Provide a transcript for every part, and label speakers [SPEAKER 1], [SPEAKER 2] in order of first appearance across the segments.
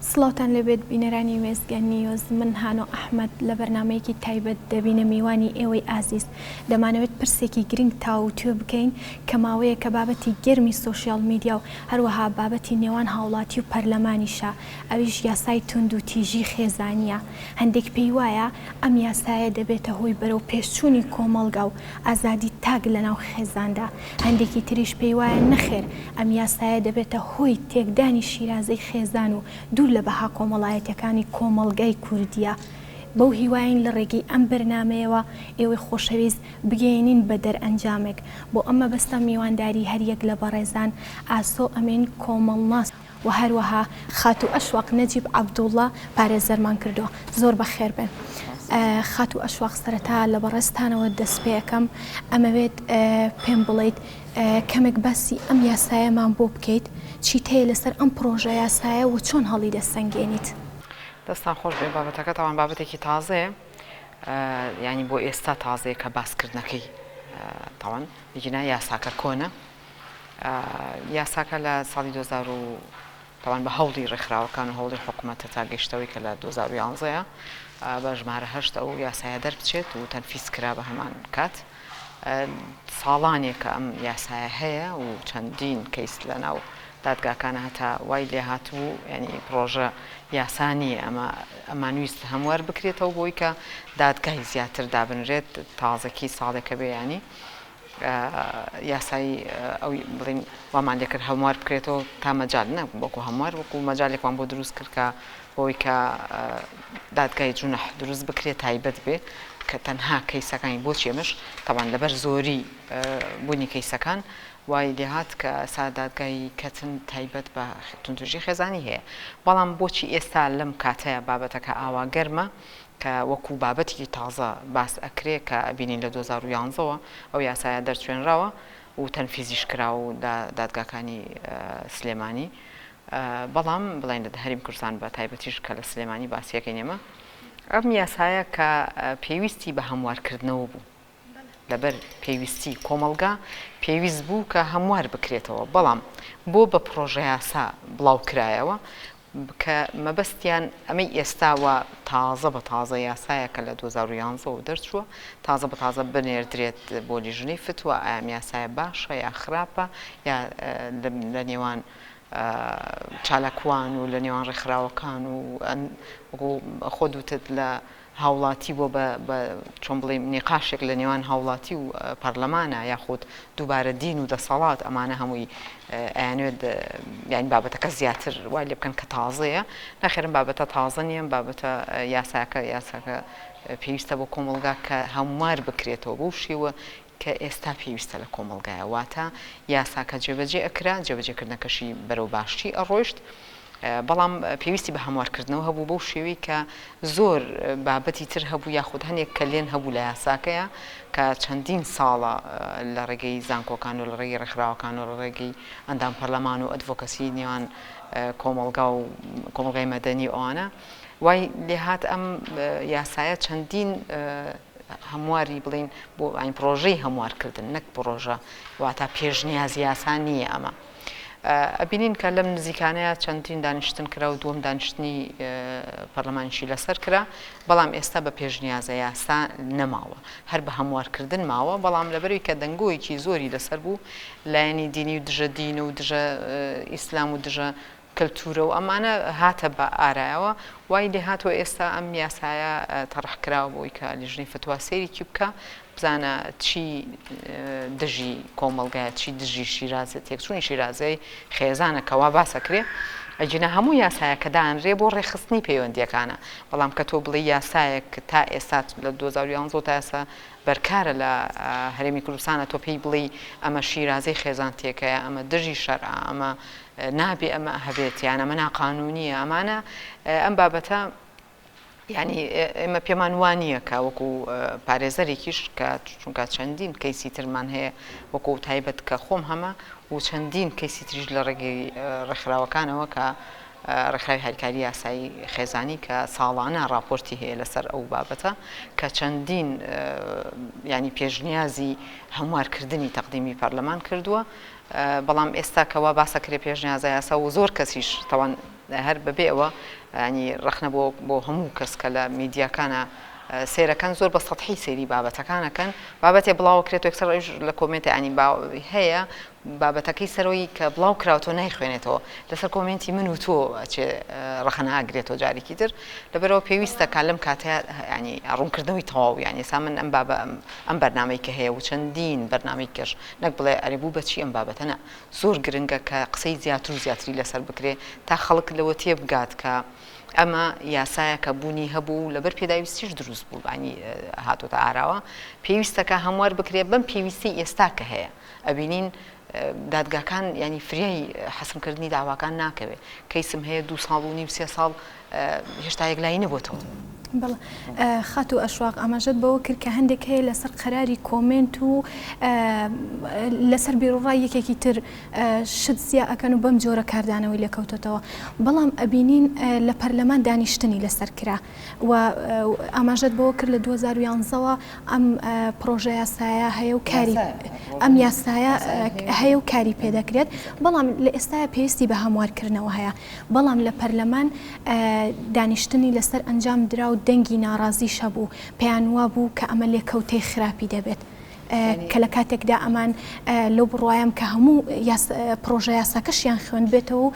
[SPEAKER 1] سڵاوتان لێبێت بینەرانی وێستگە نیوز من هانۆ ئەحمەد لە بەرنامەیەکی تایبەت دەبینە میوانی ئێوەی ئازیز دەمانەوێت پرسێکی گرنگ تاووتوێ بکەین کە ماوەیەکە بابەتی گەرمی سۆشیال میدیا و هەروەها بابەتی نێوان هاوڵاتی و پەرلەمانیشە ئەویش یاسای توندو تیژی خێزانیە هەندێک پێی وایە ئەم یاسایە دەبێتە هۆی بەرەو پێشچوونی کۆمەڵگا و ئازادی تاک لەناو خێزاندا هەندێکی تریش پێی وایە نەخێر ئەم یاسایە دەبێتە هۆی تێکدانی شیرازەی خێزان و دوور لە بەها کۆمەڵایەتیەکانی کۆمەڵگای کوردیە. بەو هیوایەین لە ڕێگەی ئەم بەرنامەیەوە ئێوەی خۆشەویست بگەیەنین بە دەرئەنجامێک. بۆ ئەم مەبەستە میوانداری هەریەک لە بەڕێزان ئاسۆ ئەمین کۆمەڵناس، و هەروەها خاتوو ئەشواق نەجیب عەبدوڵڵا پارێزەرمان کردووە. زۆر بەخێربێن خاتوو ئەشواق، سەرەتا لە بەڕێزتانەوە دەستپێکەم، ئەمەوێت پێم بڵێیت کەمێک باسی ئەم یاسایەمان بۆ بکەیت، چیت هەیە لەسەر ئەم پڕۆژە یاسایە و چۆن هەڵیدەسەنگێنیت؟ دەستتان
[SPEAKER 2] خۆش بێت، بابەتەکە تاوان بابەتێکی تازەیە، یانی بۆ ئێستا تازەیە کە باسکردنەکەی تاوان، ئیگینا یاساکە کۆنە، یاساکە لە ساڵی دوو هەزار و تاوان بە هەوڵی ڕێکخراوەکان و هەوڵی حکومەتە تا گەیشتەوەی کە لە دوو هەزار و یانزە بە ژمارە هەشت ئەو یاسایە دەربچێت و تەنفیز کرا بە هەمان کات ساڵانێکە ئەم یاسایە هەیە و چەندین کەیس لە ناو دادگاکانە هەتا وای لێ هاتبوو ینی پرۆژە یاسا نییە ئەمە ئەمانویست هەموار بکرێتەوە بۆی کە دادگای زیاتر دابنرێت تازەکی ساڵێکە بێیانی یاسایی ئەوی بڵیم وامان لێکرد هەموار بکرێتەوە تا مەجال نە وەکو هەموار وەکو مەجالێکمان بۆ دروست کرد کە بۆی کە دادگای جونح دروست بکرێت تایبەت بێ کە تەنها کەیسەکانی بۆ چێمەش تاوان لەبەر زۆری بوونی کەیسەکان وای لێهات کە سا دادگای کەتن تایبەت بە تونتوژی خێزانی هەیە بەڵام بۆچی ئێستا لەم کاتەیە بابەتەکە ئاوا گەرمە؟ کە وەکو بابەتێکی تازە باس ئەکرێ کە ئەبینین لە دوو هەزار و یازدە وە ئەو یاسایە دەرچوێنراوە و تەنفیزیش کرا و لە دادگاکانی سلێمانی بەڵام بڵێن لە هەریم کوردستان بە تایبەتیش کە لە سلێمانی باسیەکەین ئێمە ئەم یاسایە کە پێویستی بە هەموارکردنەوە بوو لەبەر پێویستی کۆمەڵگا پێویست بوو کە هەموار بکرێتەوە، بەڵام بۆ بە پڕۆژەیاسا بڵاو کرایەوە کە مەبەستیان ئەمەی ئێستا وا تازە بە تازە یاسایەکە لە دوو هەزار و یانزە وە دەرچووە تازە بە تازە بنێردرێت بۆ لیژنەی فتوا ئایا ئەم یاسایە باشە یا خراپە یا لە نێوان چالاکوان و لە نێوان ڕێکخراوەکان و خۆ دوتت لە هاوڵاتی بۆ بە بە چۆن بڵیم نیقاشێک لە نێوان هاوڵاتی و پەرلەمانە یاخود دووبارە دین و دەسەڵات ئەمانە هەمووی ئەیانوێت یانی بابەتەکە زیاتر وای لێ بکەن کە تازەیە نەخێرم بابەتە تازە نییە ئەم بابەتە یاساکە یاساکە پێویستە بۆ کۆمەڵگا کە هەموار بکرێتەوە بەو شێوە کە ئێستا پێویستە لە کۆمەڵگایە واتە یاساکە جێبەجێ ئەکرا جێبەجێکردنەکەشی بەرەو باشی ئەڕۆیشت بەڵام پێویستی بە هەموارکردنەوە هەبوو بەو شێوەی کە زۆر بابەتی تر هەبوو یاخود هەنێک کەلێن هەبوو لە یاساکەیە کە چەندین ساڵە لە ڕێگەی زانکۆکان و لە ڕێگەی ڕێکخراوەکان و لە ڕێگەی ئەندام پەرلەمان و ئەدڤۆکەسی نێوان کۆمەڵگا و کۆمەڵگای مەدەنی ئەوانە وای لێهات ئەم یاسایە چەندین هەمواری بڵێین بۆ ئاین پڕۆژەی هەموارکردن نەک پڕۆژە واتا پێشنیاز یاسا نییە ئەمە ئەبینین کە لەم نزیکانەیە چەندین دانیشتن کرا و دووەم دانیشتنی پەرلەمانشی لەسەر کرا بەڵام ئێستا بە پێشنیازە یاسا نەماوە هەر بە هەموارکردن ماوە بەڵام لەبەروی کە دەنگۆیەکی زۆری لەسەر بوو لایەنی دینی و دژە دین و دژە ئیسلام و دژە کەلتورە و ئەمانە هاتە بە ئارایەوە وای لێ هاتوە ئێستا ئەم یاسایە تەڕح کراوە بۆی کە لیژنەی فتوا سەیرێکی بکا بزانە چی دژی کۆمەڵگایە چی دژی شیرازە تێکچونی شیرازەی خێزانە کەوا باسە کرێ ئەجینا هەموو یاسایە کە دانرێ بۆ ڕێخستنی پەیوەندیەکانە بەڵام کە تۆ بڵێ یاسایەک تا ئێستا لە 2011 تا ئێستا بەرکارە لە هەرێمی کوردستانە تۆ پێی بڵێ ئەمە شیرازەی خێزان تێکەیە ئەمە دژی شەرع ئەمە نابێ ئەمە هەبێت یان ئەمە ناقانونیە ئەمانە ئەم بابەتە ینی ئێمە پێمان وانە کە وەکو پارێزەرێکیش کە چونکە چەندین کەیسی ترمان هەیە وەکو تایبەت کە خۆم هەمە و چەندین کەیسی تریش لە ڕێگەی ڕێکخراوەکانەوە کە ڕێکخراوی هەرکاری یاسایی خێزانی کە ساڵانە راپۆرتی هەیە لەسەر ئەو بابەتە کە چەندین ینی پێشنیازی هەموارکردنی تەقدیمی پەرلەمان کردووە بەڵام ئێستا کە وا باسە کرێ پێشنیازە یاسا و زۆر کەسیش تاوان هەر بە بێ ئەوە ینی ڕەخنە بۆ بۆ هەموو کەس کە لە میدیاکانە سێرەکەن زۆر بە سەحی سێری بابەتەکانەکەن بابەتێ بڵاو کرێت وەکسەر ڕژ لە کۆمنتی ئەنی با هەیە بابەتەکەی سەرۆی کە بڵاو کراوتۆ نایخوێنێتەوە لەسەر کۆمنتی من و تۆ چێ ڕەخەنە ئاگرێتەوە جارێکی تر لەبەرەوە پێویستە کا لەم کاتە ینی ڕوونکردنەوەی تەواو ینی سا من ئەم بابە ئەم بەرنمەی کە هەیە و چەندین بەرنمەی کەش نەک بڵێ ئەرێ بوو بەچی ئەم بابەتە نا زۆر گرنگە کە قسەی زیاتر و زیاتری لەسەر بکرێ تا خەڵک لەوە تێبگات کە ئەمە یاسایەکە بوونی هەبوو و لەبەر پێداویستیش دروست بوو بانی هاتۆتە ئاراوە پێویستەکە هەموار بکرێ بەم پێویستی ئێستا کە هەیە ئەبینین دادگاکان ینی فریای حەسمکردنی داواکان ناکەوێ کەیسم هەیە دو ساڵ و نیو سێ ساڵ هێشتا یەکلایی نەبۆتەوە. بەڵێ
[SPEAKER 1] خاتوو ئەشواق ئاماژەت بەوە کرد کە هەندێک هەیە لەسەر قەراری کۆمێنت و لەسەر بیرڕای یەکێکی تر شت زیا ئەکەن و بەم جۆرە کاردانەوەی لێکەوتێتەوە بەڵام ئەبینین لە پەرلەمان دانیشتنی لەسەر کرا و ئاماژەت بەوە کرد لە 2011ەوە ئەم پرۆژە یاسایە هەیە و کاری ئەم یاسایە هەیە و کاری پێدەکرێت بەڵام لە ئێستاە پێویستی بە هەموارکردنەوە هەیە بەڵام لە پەرلەمان دانیشتنی لەسەر ئەنجام درا و دەنگی ناڕازیش هەبوو، پێیان وابوو کە ئەمە لێکەوتەی خراپی دەبێت. کە لە کاتێکدا ئەمان لەو بڕوایەم کە هەموو پڕۆژە یاساکەشیان خوێندبێتەوە و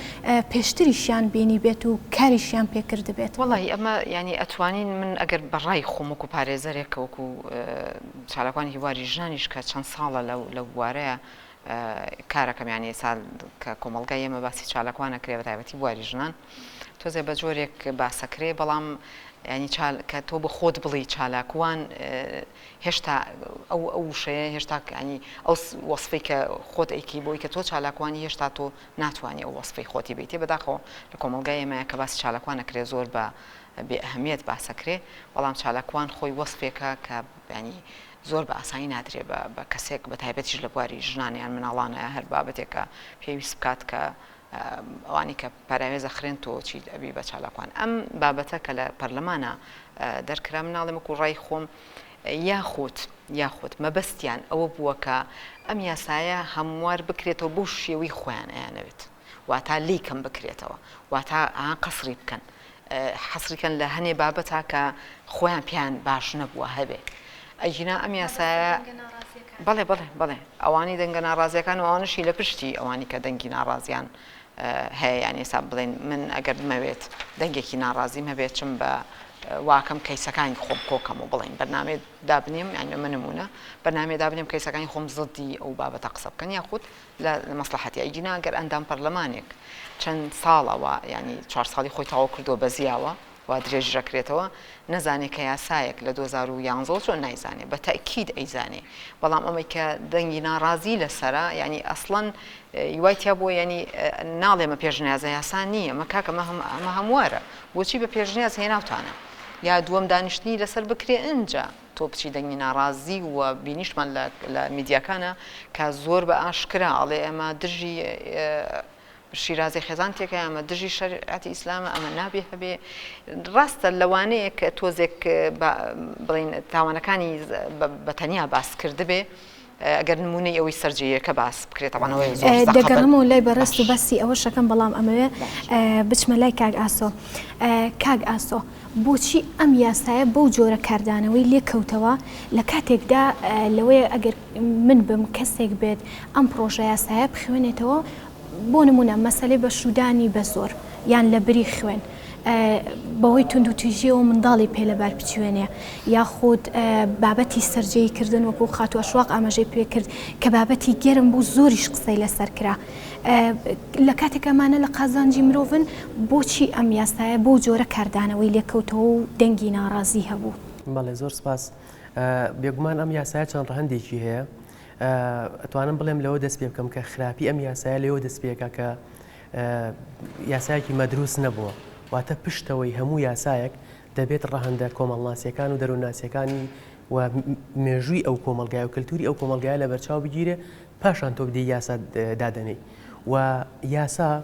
[SPEAKER 1] پێشتریشیان بینیبێت و کاریشیان پێ کردبێت. وەڵاهی ئەمە یانی
[SPEAKER 2] ئەتوانین من ئەگەر بە ڕای خۆم وەکوو پارێزەرێک کە وەکوو چالاکوانی هیواری ژنانیش کە چەند ساڵە لەو بوارەیە کارەکەم یانی ئێستا کە کۆمەڵگای ئێمە باسی چالاکوان ئەکرێ بەتایبەتی بواری ژنان تۆزێ بە جۆرێک باسەکرێ بەڵام ینی کە تۆ بە خۆت بڵی چالاکوان هێشتا ئەو ئەو وشەیە هێشتا ینی ئەو وەصفی کە خۆت ئەیکی بۆی کە تۆ چالاکوانی هێشتا تۆ ناتوانانی ئەو وەصفی خۆتی بیتێ بەداخەوە لە کۆمەلگای ئێمە کە باسی چالاکوان نەکرێ زۆر بە بێ ئەهمیت باسەکرێ بەڵام چالاکوان خۆی وەصفێکە کە ینی زۆر بە ئاسانی نادرێ بە کەسێک بە تایبەتیش لە بواری ژنان یان مناڵانە هەر بابەتێکە پێویست بکات کە ئەوانی کە پەراوێز ئەخرێن تۆ چیت ئەبی بە چالاکوان ئەم بابەتە کە لە پەرلەمانە دەرکرا مناڵێ وەکو ڕای خۆم یاخود یاخود مەبەستیان ئەوە بووە کە ئەم یاسایە هەموار بکرێتەوە بۆ شێوەی خۆیان ئەیانەوێت واتا لێی کەم بکرێتەوە واتا قەسری بکەن حەسریکەن لە هەنێ بابەتا کە خۆیان پێیان باش نەبووە هەبێ ئەجینا ئەم یاسایە بەڵێ بڵێ بڵێ ئەوانی دەنگە ناڕازیەکان و ئەوانشی لە پشتی ئەوانی کە دەنگی ناڕازیان هەیە یان ئێستا بڵێن من ئەگەر بمەوێت دەنگێکی ناڕازیم هەبێت چم بە واکەم کەیسەکانی خۆم کۆکەم و بڵین بەنامێ دابنیم یان ئەمە نمونە بەنامێ دابنیم کەیسەکانی خۆم زدی ئەو بابەتە قسە بکەن یاخود لە مەسڵەحەتی ئەیگینا گەر ئەندام پەرلەمانێک چەند ساڵە وا یانی چوار ساڵی خۆی تەواو کردووە بە زیاوە وا درێژ ئەکرێتەوە نەزانێ کە یاسایەک لە دوو هەزار و یانزە و چۆن نایزانێ بە تەئکید ئەیزانێ بەڵام ئەمەی کە دەنگی ناڕازی لەسەرە یانی ئەسڵەن یوای تیا بووە یانی ناڵێ مە پێشنیازە یاسا نییە مە کاکە مە هەم ئەمە هەموارە بۆچی بە پێشنیاز هێناوتانە یا دووەم دانیشتنی لەسەر بکرێ ئینجا تۆپچی دەنگی ناڕازی و بینیشتمان لە لە میدیاکانا کە زۆر بە ئاشکرا ئەڵێ ئەمە دژی شیرازی خێزان تێکە ئەمە دژی شەرعەتی ئیسلامە ئەمە نابێ هەبێ ڕاستە لەوانەیە کە تۆزێک بڵین تاوانەکانی بە تەنیا باس کردبێ ئەگەر نموونەی ئەوەی سەر جێیەکە باس بکرێت تەبعەن ئەوە زۆر سەخەتە. دەگەڕێمەوە لای
[SPEAKER 1] بەڕێزت و باسی ئەوە شەکەم بەڵام ئەمەوێ بچمە لای کاک ئاسۆ. کاک ئاسۆ بۆچی ئەم یاسایە بەو جۆرە کاردانەوەی لێ کەوتەوە لە کاتێکدا لەوەیە ئەگەر من بم کەسێک بێت ئەم پڕۆژە یاسایە بخوێنێتەوە بۆ نموونە مەسەلەی بەشوودانی بە زۆر یان لە بری خوێن بەوەی توندوتیژیەوە منداڵی پێ لە بار بچوێنێ یاخود بابەتی سرجەی کردن وەکو خاتوە شواق ئاماژەی پێ کرد کە بابەتی گەرم بوو زۆریش قسەی لەسەر کرا لە کاتێکەمانە لە قازانجی مرۆڤن بۆچی ئەم یاسایە بۆ جۆرە کاردانەوەی لێکەوتەوە و دەنگی ناڕازی هەبوو بەڵێ زۆر سپاس
[SPEAKER 3] بێگومان ئەم یاسایە چەند ڕەهندێکی هەیە ئەتوانم بڵێم لەوە دەست پێ بکەم کە خراپی ئەم یاسایە لەوە دەست پێکا کە یاسایەکی مەدروست نەبووە واتە پشتەوەی هەموو یاسایەک دەبێت ڕەهندە کۆمەڵناسیەکان و دەروونناسیەکانی و مێژووی ئەو کۆمەلگای و کللتوری ئەو کۆمەلگای لە بەرچاو بگیرێ پاشان تۆ بدی یاسا دادەنی و یاسا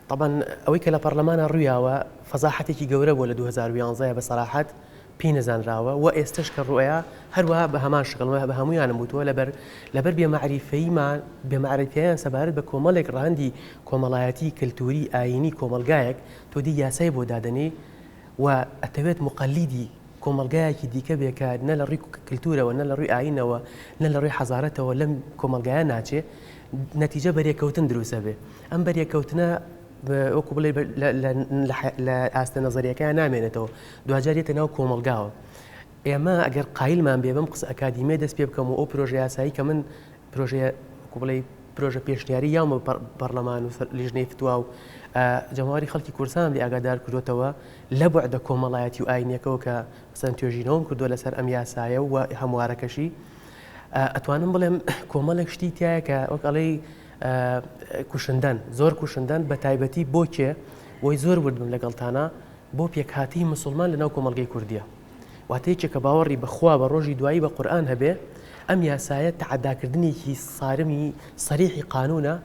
[SPEAKER 3] طبعا ئەوەی کە لە پەرلەمانە ڕویاوە فەزاحەتێکی گەورە بۆ لە 2011 بە سەراحەت پێی نەزانراوە وە ئێستەش کە ڕوئیا هەروا بە هەمان شکڵ وە بە هەموویانم وتووە لەبەر لەبەر بێ مەعریفەیی ما بێ مەعرەفیان سەبارەت بە کۆمەڵێک ڕەهەندی کۆمەڵایەتی کەلتووری ئایینی کۆمەڵگایەک تۆ دێی یاسای بۆ دادەنێی وە ئەتەوێت موقەلیدی کۆمەڵگایەکی دیکە بێ کە نە لە ڕووی کلتوورەوە نە لە ڕووی ئایینەوە نە لە ڕووی حەزارەتەوە لەم کۆمەڵگایە ناچێ نەتیجە بەرێکەوتن دروست ئەبێ ئەم بەرێکەوتنە وەکو بڵێ لە ئاستە نەزەریەکەیان نامێنێتەوە دواجار یەتە ناو کۆمەلگاوە ئێمە ئەگەر قایلمان بێ بم قسە ئەکادیمیە دەست پێ بکەم و ئەو پرۆژە یاسایی کە من پرۆژەیە کوبڵی پرۆژە پێشنیاری یامە پەرلەمان و لیژنەی فتووا و جەماواری خەڵکی کورسان لە ئاگادار کردوتەوە لە بەعدە کۆمەڵایەتی و ئاینەکەەوە کە سند توێژینەوەم کردو لەسەر ئەم یاسایە و هەموارەکەشی ئەتوانم بڵێم کۆمەڵێک شتی تایە کە وەکڵی کوشندەن زۆر کوشندەن بە تایبەتی بۆ کێ بۆی زۆر وردم لەگەڵتانە بۆ پێکهاتی مسلمان لە ناو کۆمەلگەی کوردیە واتەیەکێ کە باوەڕی بەخوا بە ڕۆژی دوایی بە قورآان هەبێ ئەم یاسایە تعداکردنێکی سارمی سەریحی قانونە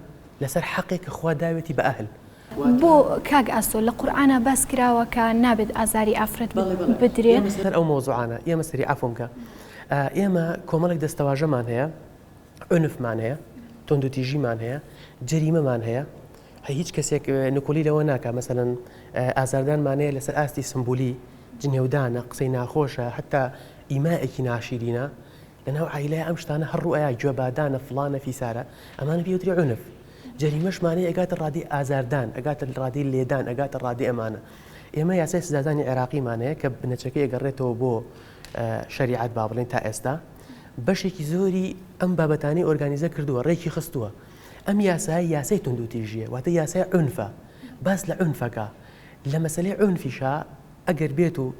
[SPEAKER 3] لەسەر حەقێک کە خوا داوێتی بە ئەهل بۆ
[SPEAKER 1] کاک ئاسۆ لە قورآە باس کراوە کە نابێت ئازاری ئافرەت بدرێت سەر ئەو مۆزوعانە
[SPEAKER 3] ئێمە سەری ئەفۆمکە ئێمە کۆمەڵێک دەستەواژەمان هەیە عنفمان هەیە، توندوتیژیمان هەیە، جەریمەمان هەیە، هیچ کەسێک نکولی لەوە ناکە مەسەن ئازاردانمان هەیە لەسەر ئاستی سمبولی جنێودانە قسەی ناخۆشە هەتا ئیمایەکی ناشیرینە لە ناو عیلای ئەم شتانە هەڕوو ئایا گوێبادانە فلانە فیسارە ئەمانە پێوتری عنف جەریمەشمانەی ئەگاتە ڕادی ئازاردان ئەگاتە ڕادی لێدان ئەگاتە ڕادی ئەمانە ئێمە یاسای سزادانی عێراقیمانەیە کە بنەچەکەی ئەگەڕێتەوە بۆ شەریعەت با بڵێین تا ئێستا بەشێکی زۆری ئەم بابەتانی ئۆرگانیزە کردووە ڕێکی خستووە ئەم یاسای یاسای تونندوتیژیە واتە یاسای عنفە باس لە عنفەکە لە مەسلەی عنفیشا ئەگەر بێت و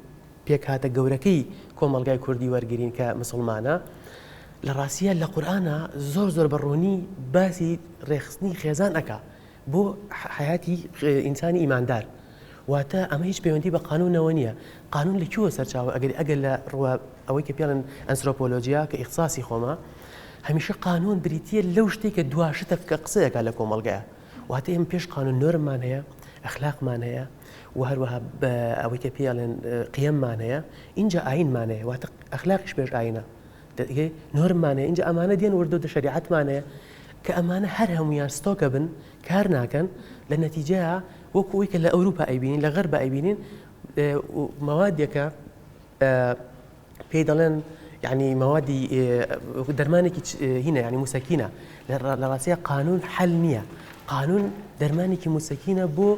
[SPEAKER 3] پێکهاتە گەورەکەی کۆمەلگای کوردی وەرگین کە مسلمانە لە ڕاستە لە قورآە زۆر زۆر بە ڕوونی باسی ڕێخستنی خێزان ئەک بۆ حەیاتی ئینسانی ئیماندار واتە ئەمە هیچ پەیوەندی بە قانونەوە نییە قانون لە کووە سەرچاوە ئەگەر ئەگەر لە ڕوە ئەوەی کە پێڵن ئەنسرۆپۆلۆژیا کە ئیخصاسی خۆمە هەمیشە قانون بریتە لەو شتێک کە دواشتە کە قسەیەکە لە کۆمەلگایە واتە ئێمە پێش قانون نۆرممان هەیە ئەخلاقمان هەیە و هەروەها بە ئەوەی کە پێڵێن قیممان هەیە اینجا ئاینمان هەیە واتە ئەخلاقیش پێش ئاینە دەرگای نۆرممان هەیە ئینجا ئەمانە دێن وردە وردە شەریعەتمان هەیە کە ئەمانە هەر هەموویان ستۆکە بن کار ناکەن لە نەتیجەیە وەکو ئەوی کە لە ئەوروپا ئەیبینین لە غەربا ئەیبینین مەوادێکە پێی دەڵێن یعنی مەوادی دەرمانێکی هینە ینی موسەکینە لە ڕاستە قانون حل نییە قانون دەرمانێکی موسەکینە بۆ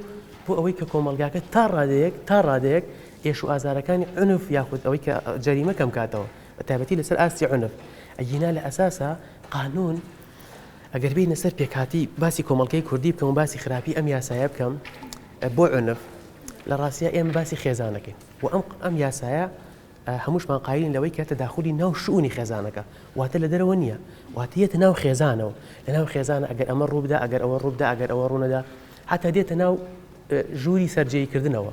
[SPEAKER 3] بۆ ئەوەی کە کۆمەلگاکە تا ڕادەیەک تا ڕادەیەک ئێش و ئازارەکانی عنف یاخود ئەوەی کە جەریمە کەم کاتەوە بە تایبەتی لەسەر ئاستی عونف ئەگینا لە ئەساسا قانون ئەگەر بینە سەر پێکاتی باسی کۆمەڵگەی کوردی بکەم و باسی خراپی ئەم یاسایە بکەم بۆ عنف لە ڕاستە ئێمە باسی خێزانەکەین و ئەم ئەم یاسایە هەمووشمان قاین لەوەی کە تەداخلی ناو شوونی خێزانەکە واتە لە دەرەوە نییە واتیەتە ناو خێزانەوە لە ناو خێزانە ئەگەر ئەمە ڕووبدا ئەگەر ئەوە ڕووبدا ئەگەر ئەوە ڕوونەدا حتا دێتە ناو ژووری سەررجەیکردنەوە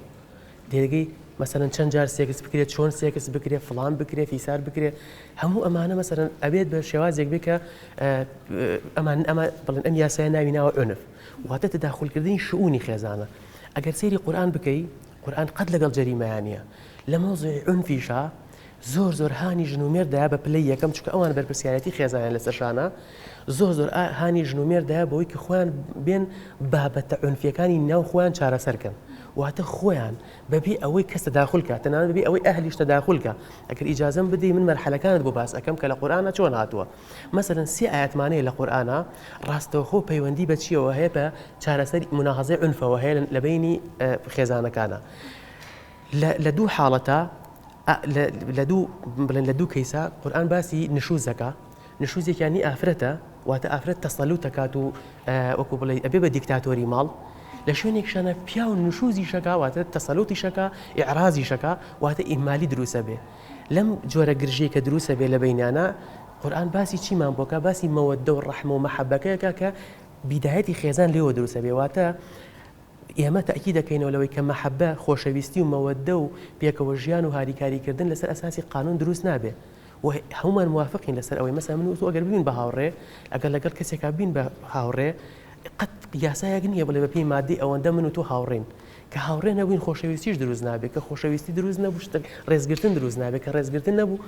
[SPEAKER 3] دەرگەی مەسەلەن چەند جار سێکس بکرێت چۆن سێکس بکرێت فڵان بکرێت فیسار بکرێت هەموو ئەمانە مەسەرەن ئەبێت بە شێوازێک بێ کە ئەمان ئەمە بڵێن ئەم یاسای ناوی ناوە ئۆنف واتە تداخولکردنی شعونی خێزانە ئەگەر سێری قورآان بکەی قورآان قەت لەگەڵ جەریمایانە لە مۆزی ئۆنفیشا زۆر زۆر هانی ژن و مێرد دایە بە پلەی یەکەم چونکە ئەوان بەرپرسیارێتی خێزانیان لەسەر شانە زۆر زۆر هانی ژن و مێرد دایە بەوەی کە خۆیان بێن بابەتە عونفیەکانی ناو خۆیان چارەسەرکەن واتە خۆیان بەبێ ئەوەی کەس تەداخولکە تەنانەت بەبێ ئەوەی ئەهلیش تەداخولکە ئەگەر ئیجازەم بدەی من مەرحەلەکانت بۆ باس ئەکەم کە لە قورئانە چۆن هاتووە مەسەلەن سێ ئایەتمانەیە لە قورئانە ڕاستەوخۆ پەیوەندی بە چیەوە هەیە بە چارەسەری مناهەزەی عونفەوە هەیە لە بینی خێزانەکانە لە لە دوو حاڵەتا ئە لە لە دوو بڵێن لە دوو کەیسا قورئان باسی نشوز دەکا نشوزێکیان نی ئافرەتە واتە ئافرەت تەسەلوت دەکات و ئە وەکو بڵێی ئەبێ بە دیکتاتۆری ماڵ لە شوێنێکشانە پیاو نشوزیشەکا واتە تەسەلوتیشەکا ئیعرازیشەکا واتە ئیهمالی دروس ئەبێ لەم جۆرە گرژیی کە دروس ئەبێ لە بەینانا قورئان باسی چیمان بۆ کا باسی مەوەددە و ڕەحمە و مەحەبەکەیەکا کە بیدایەتی خێزان لێوە دروس ئەبێ واتە ئێمە تەئکید دەکەینەوە لەوەی کە مەحەبە، خۆشەویستی و مەوەددە و پێکەوە ژیان و هاریکاری کردن لەسەر ئەساسی قانون دروست نابێ و هەموومان موافقین لەسەر ئەوەی مەسەلەن من و تۆ ئەگەر ببین بە هاوڕێ ئەگەر لەگەڵ کەسێکا ببین بە هاوڕێ قەت یاسایەک نییە بڵێ بەپێی ماددەی ئەوەندە من و تۆ هاوڕێین کە هاوڕێ نەبووین خۆشەویستیش دروست نابێ کە خۆشەویستی دروست نەبوو شتێک ڕێزگرتن دروست نابێ کە ڕێزگرتن نەبوو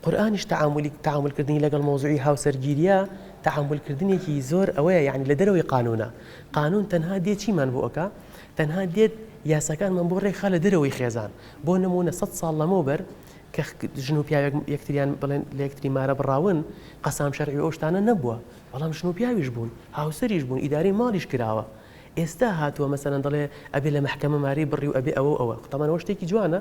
[SPEAKER 3] قورئانیش تەعامولی تەعامول کردنی لەگەڵ مەوزوعی هاوسەرگیریە تەعامول کردنێکی زۆر ئەوەیە یانی لە دەرەوەی قانونە قانون تەنها دێ چیمان بۆ ئەکا تەنها دێت یاساکانمان بۆ ڕێکخا لە دەرەوەی خێزان بۆ نمونە سەد ساڵ لەمەو بەر کە ژن و پیاوێک یەکتریان بڵێن لە یەکتری مارە بڕاون قەسام شەرعی و ئەو شتانە نەبووە بەڵام ژن و پیاویش بوون هاوسەریش بوون ئیدارەی ماڵیش کراوە ئێستا هاتووە مەسەلەن دەڵێ ئەبێ لە مەحکەمە مارەی بڕی و ئەبێ ئەوە و ئەوە تەمەنەوە شتێکی جوانە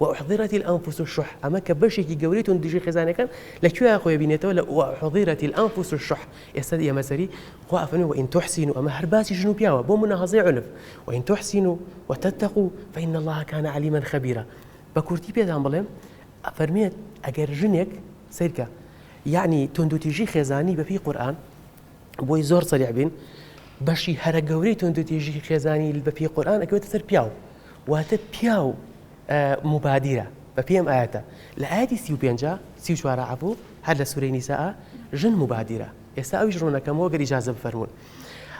[SPEAKER 3] واحضرت الانفس الشح ئەمە کە بەشێکی گەورەی تون دژی خێزانەکان لە کوێ خۆی بینێتەوە لە واحضرت الانفس الشح ئێستا ئێمە سەری خوا ئەفەرمێ وان تحسنوا ئەمە هەر باسی ژن و پیاوە بۆ مناهەزەی عنف وان تحسنوا وتتقوا فان الله كان علیما خبیرا بە کورتی پێتان بڵێم ئەفەرمێت ئەگەر ژنێک سەیرکە یعنی توندوتیژی خێزانی بەپێی قورئان بۆی زۆر سەریع بین بەشی هەرە گەورەی توندوتێژی خێزانی بە پێی قورآن ئەکەوێتە سەر پیاو واتە پیاو مبادرە بە پێم ئاەتە لە ئاەتی سی و پێنج سی چوارە عبوو هەر لە سوورەی نیسا ژن مبادرە ئێستا ئەویش ڕوونەکەمەوە گەری جازە بفەرمونون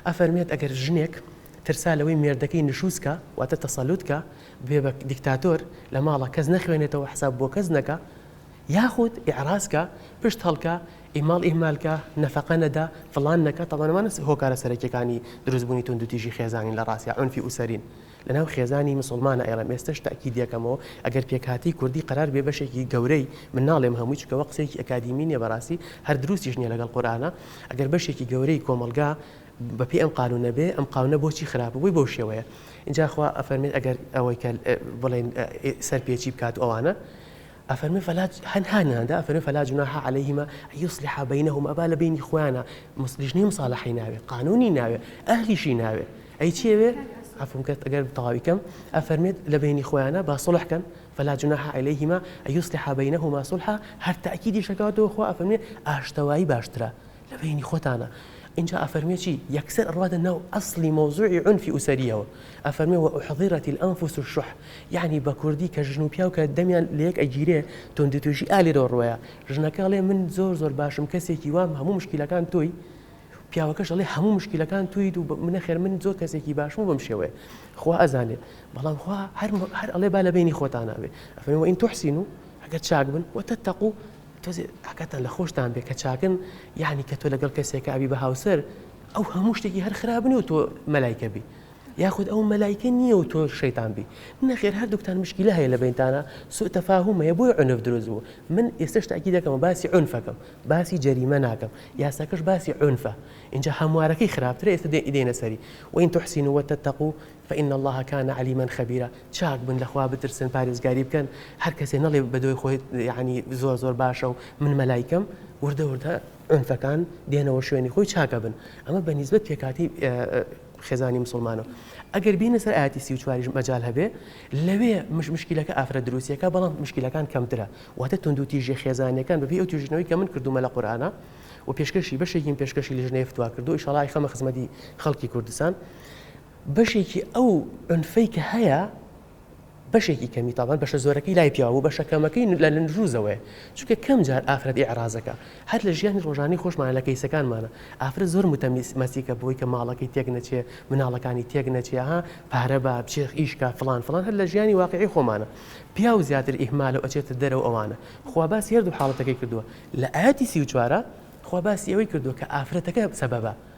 [SPEAKER 3] ئەفەرمێت ئەگەر ژنێک ترسا لەوەی مێردەکەی نشوزکە واتە تەسەلوتکە بێ بە دیکتاتۆر لە ماڵە کەس نەخوێنێتەوە حساب بۆ کەس نەکە یاخود ئعراسکە پشت هەڵکە ئیماڵ ئیهمال کە، نەفەقە نەدە، فڵان نەکە، تەبەن ئەمانە هۆکارە سەرەکیەکانی دروست بوونی توندوتیژی خێزانین لە ڕاستیا عونفی ئوسەرین لە ناو خێزانی مسوڵمانا ئێڵێم ئێستەش تەئکید ئەکەمەوە ئەگەر پێکهاتەی کوردی قەرار بێ بەشێکی گەورەی من ناڵێم هەمووی چونکە ئەوە قسەیەکی ئەکادیمی نیە بەڕاستی هەر دروستیش نیە لەگەڵ قورئانا ئەگەر بەشێکی گەورەی کۆمەڵگا بە پێی ئەم قانونە بێ ئەم قاونە بۆچی خراپە بۆی بەو شێوەیە ئینجا خوا ئەفەرمێت ئەگەر ئەوەی کە بڵێن سەرپێچی بکات ئەوانە ئەفەرمێ فەلا هەنها نهاندا ئەفەرمێ فەلا جوناح علیهما ان یصلحا بینهما با لە بینی خۆیانا لیژنەی مصالحەی ناوێ قانونی ناوێ ئەهلیشی ناوێ ئەی چێوێ عفوم کە ئەگەر تەواوی کەم ئەفەرمێت لە بینی خۆیانا با صلح کەن فلا جناح علیهما ان یصلحا بینهما صلحا هەر تاکیدی شەکەوەتەوە خوا ئەفەرمێ ئاشتەوایی باشترە لە بەینی خۆتانا ئینجا ئەفەرموێ چی یەکسەر ئەڕواتە ناو ئەسڵی مەوزوعی عونفی ئوسەریەوە ئەفەرموێ وە ئوحضیرەت الانفس الشح یەعنی بە کوردی کە ژن و پیاو کە دەمیان لە یەک ئەگیرێ توندوتیژی ئا لێرەوە ڕوایە ژنەکە ئەڵێ من زۆر زۆر باشم کەسێکی وام هەموو مشکیلەکان تۆی پیاوەکەش ئەڵێ هەموو مشکیلەکان تۆیت و نەخێر من زۆر کەسێکی باشم و بەم شێوەیە خوا ئەزانێ بەڵام خوا هەر هەر ئەڵێ با لە بینی خۆتان ناوێ ئەفەرموێ وە ئین توحسینو ئەگەر چاک بن وە تەتەقو تۆزێ ئاگاتان لە خۆشتان بێ کە چاکن یانی کە تۆ لەگەڵ کەسێکە ئەبی بە هاوسەر ئەو هەموو شتێکی هەر خراپ نیە و تۆ مەلایکە بی یاخود ئەو مەلایکە نییە و تۆ شەیتان بی نەخێر هەردووکتان مشکیلە هەیە لە بینتانە سوء تەفاهوم هەیە بۆی عنف دروست بوو من ئێستش تاکی دەکەمە باسی عنفەکەم باسی جەریمە ناکەم یاساکەش باسی عنفە اینجا هەموارەکەی خراپترە ئێستا دێنە سەری وین تحسین وتتقو فإن اللە کان علیما خبیرا چاک بن لە خوا بترسن پارێزگاری بکەن هەر کەسێ نەڵێ بە دۆی خۆی یەعنی زۆر زۆر باشە و من مەلایکەم وردە وردە عونفەکان دێنەوە شوێنی خۆی چاک ئەبن ئەمە بە نیسبەت پێکهاتەی خێزانی مسوڵمانەوە ئەگەر بینە سەر ئاتی سی و چواریش مەجال هەبێ لەوێ مش مشکلەکە ئافرەت دروستیەکە بەڵام مشکلەکان کەمترە واتە توندو تیژی خێزانەکان بەبێ ئەو توژنەوەی کە من کردومە لە قورآانە و پێشکەشی بەشێکیم پێشکەشی لژنەیە فتوا کردو ئیشەڵای خەمە خزمەتی خەڵکی کوردستان بەشێکی ئەو عونفەی کە هەیە بەشێکی کەمی تابان بەشە زۆرەکەی لای پیاو بوو بەشە کەمەکەی لە نروزەوەی چونکە کەم جار ئافرەت ئێعرازەکە هەر لە ژیانی ڕۆژانی خۆشمان لە کەیسەکانمانە ئافرەت زۆر متەمیز مەسیکە بۆی کە ماڵەکەی تێک نەچێ مناڵەکانی تێک نەچێ ها پارە بە بچێخ ئیشکا فلان فلان هەر لە ژیانی واقعی خۆمانە پیاو زیاتر ئیهمال و ئەچێتە دەرەوە ئەوانە خوا باسی هەردوو حاڵەتەکەی کردووە لە ئاەتی سی و چوارە خوا باسی ئەوەی کردووە کە ئافرەتەکە سەبەبە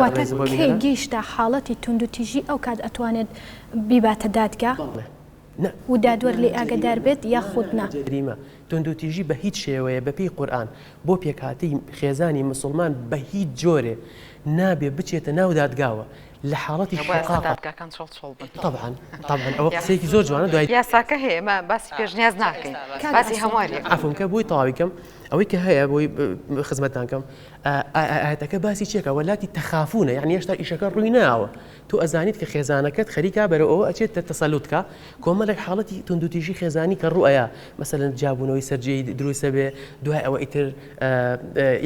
[SPEAKER 3] واتە کەی
[SPEAKER 1] گەیشتە حاڵەتی توندوتیژی ئەوکات ئەتوانێت بیباتە دادگا و دادوەر لێی ئاگەدار بێت یاخود نا؟ جەریمە،
[SPEAKER 3] توندوتیژی بە هیچ شێوەیە بە پێی قورئان بۆ پێکهاتەی خێزانی مسوڵمان بە هیچ جۆرێ نابێ بچێتە ناو دادگاوە لە حاڵەتی شقاقە. تەبعەن تەبعەن ئەوە قسەیەکی زۆر جوانە دوای. یاساکە هەیە ئێمە
[SPEAKER 2] باسی پێشنیاز ناکەین باسی هەمواری ئەکەین. عەفوم کە بۆی تەواوی کەم
[SPEAKER 3] ئەوەی کە هەیە بۆی خزمەتتان کەم ئایا ئایەتەکە باسی چیەکا وەلاتی تەخافونە یعنی هێشتا ئیشەکە ڕووی ناوە تۆ ئەزانیت کە خێزانەکەت خەریکا بەرەوە ئەوە ئەچێت تە تەسەلوتکە کۆمەلێک حاڵەتی توندوتیژی خێزانی کە ڕوئەیە مەسەلەن جابوونەوەی سەررجەی دروستە بێ دوای ئەوە ئیتر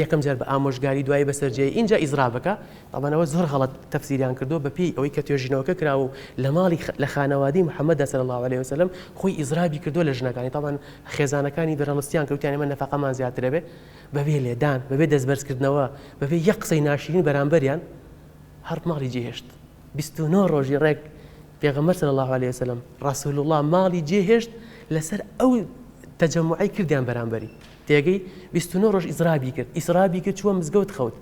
[SPEAKER 3] یەکەم جار بە ئامۆژگاری دوای بەسەررجەی اینجا ئیزرابەکە ئەمانەوە زۆر غەڵت تەفسیریان کردو بەپی ئەوەی کە توێژینەوەکە کراوە و لە ماڵی لە خانەوادی محەممەدا سەر الله عليه وسلم خۆی ئیزرابی کردو لە ژنەکانی تاوان خێزانەکانی بەرەڵستیان کەوتیان ئمە نەفقەمان زیاترەبێ بەبێ لێدان، بەبێ دەستبەرزکردنەوە، بەبێ یەک قسەی ناشیرین بەرامبەریان، هەر ماڵی جێهێشت. بیست و نۆ ڕۆژی ڕێک پێغەمبەر صلی الله علیه وسلم، رسول اللە، ماڵی جێهێشت لەسەر ئەو تەجەموعەی کردیان بەرامبەری. تێگەی؟ بیست و نۆ ڕۆژ ئیزرابی کرد، ئیسرابی کرد چووە مزگەوت خەوت.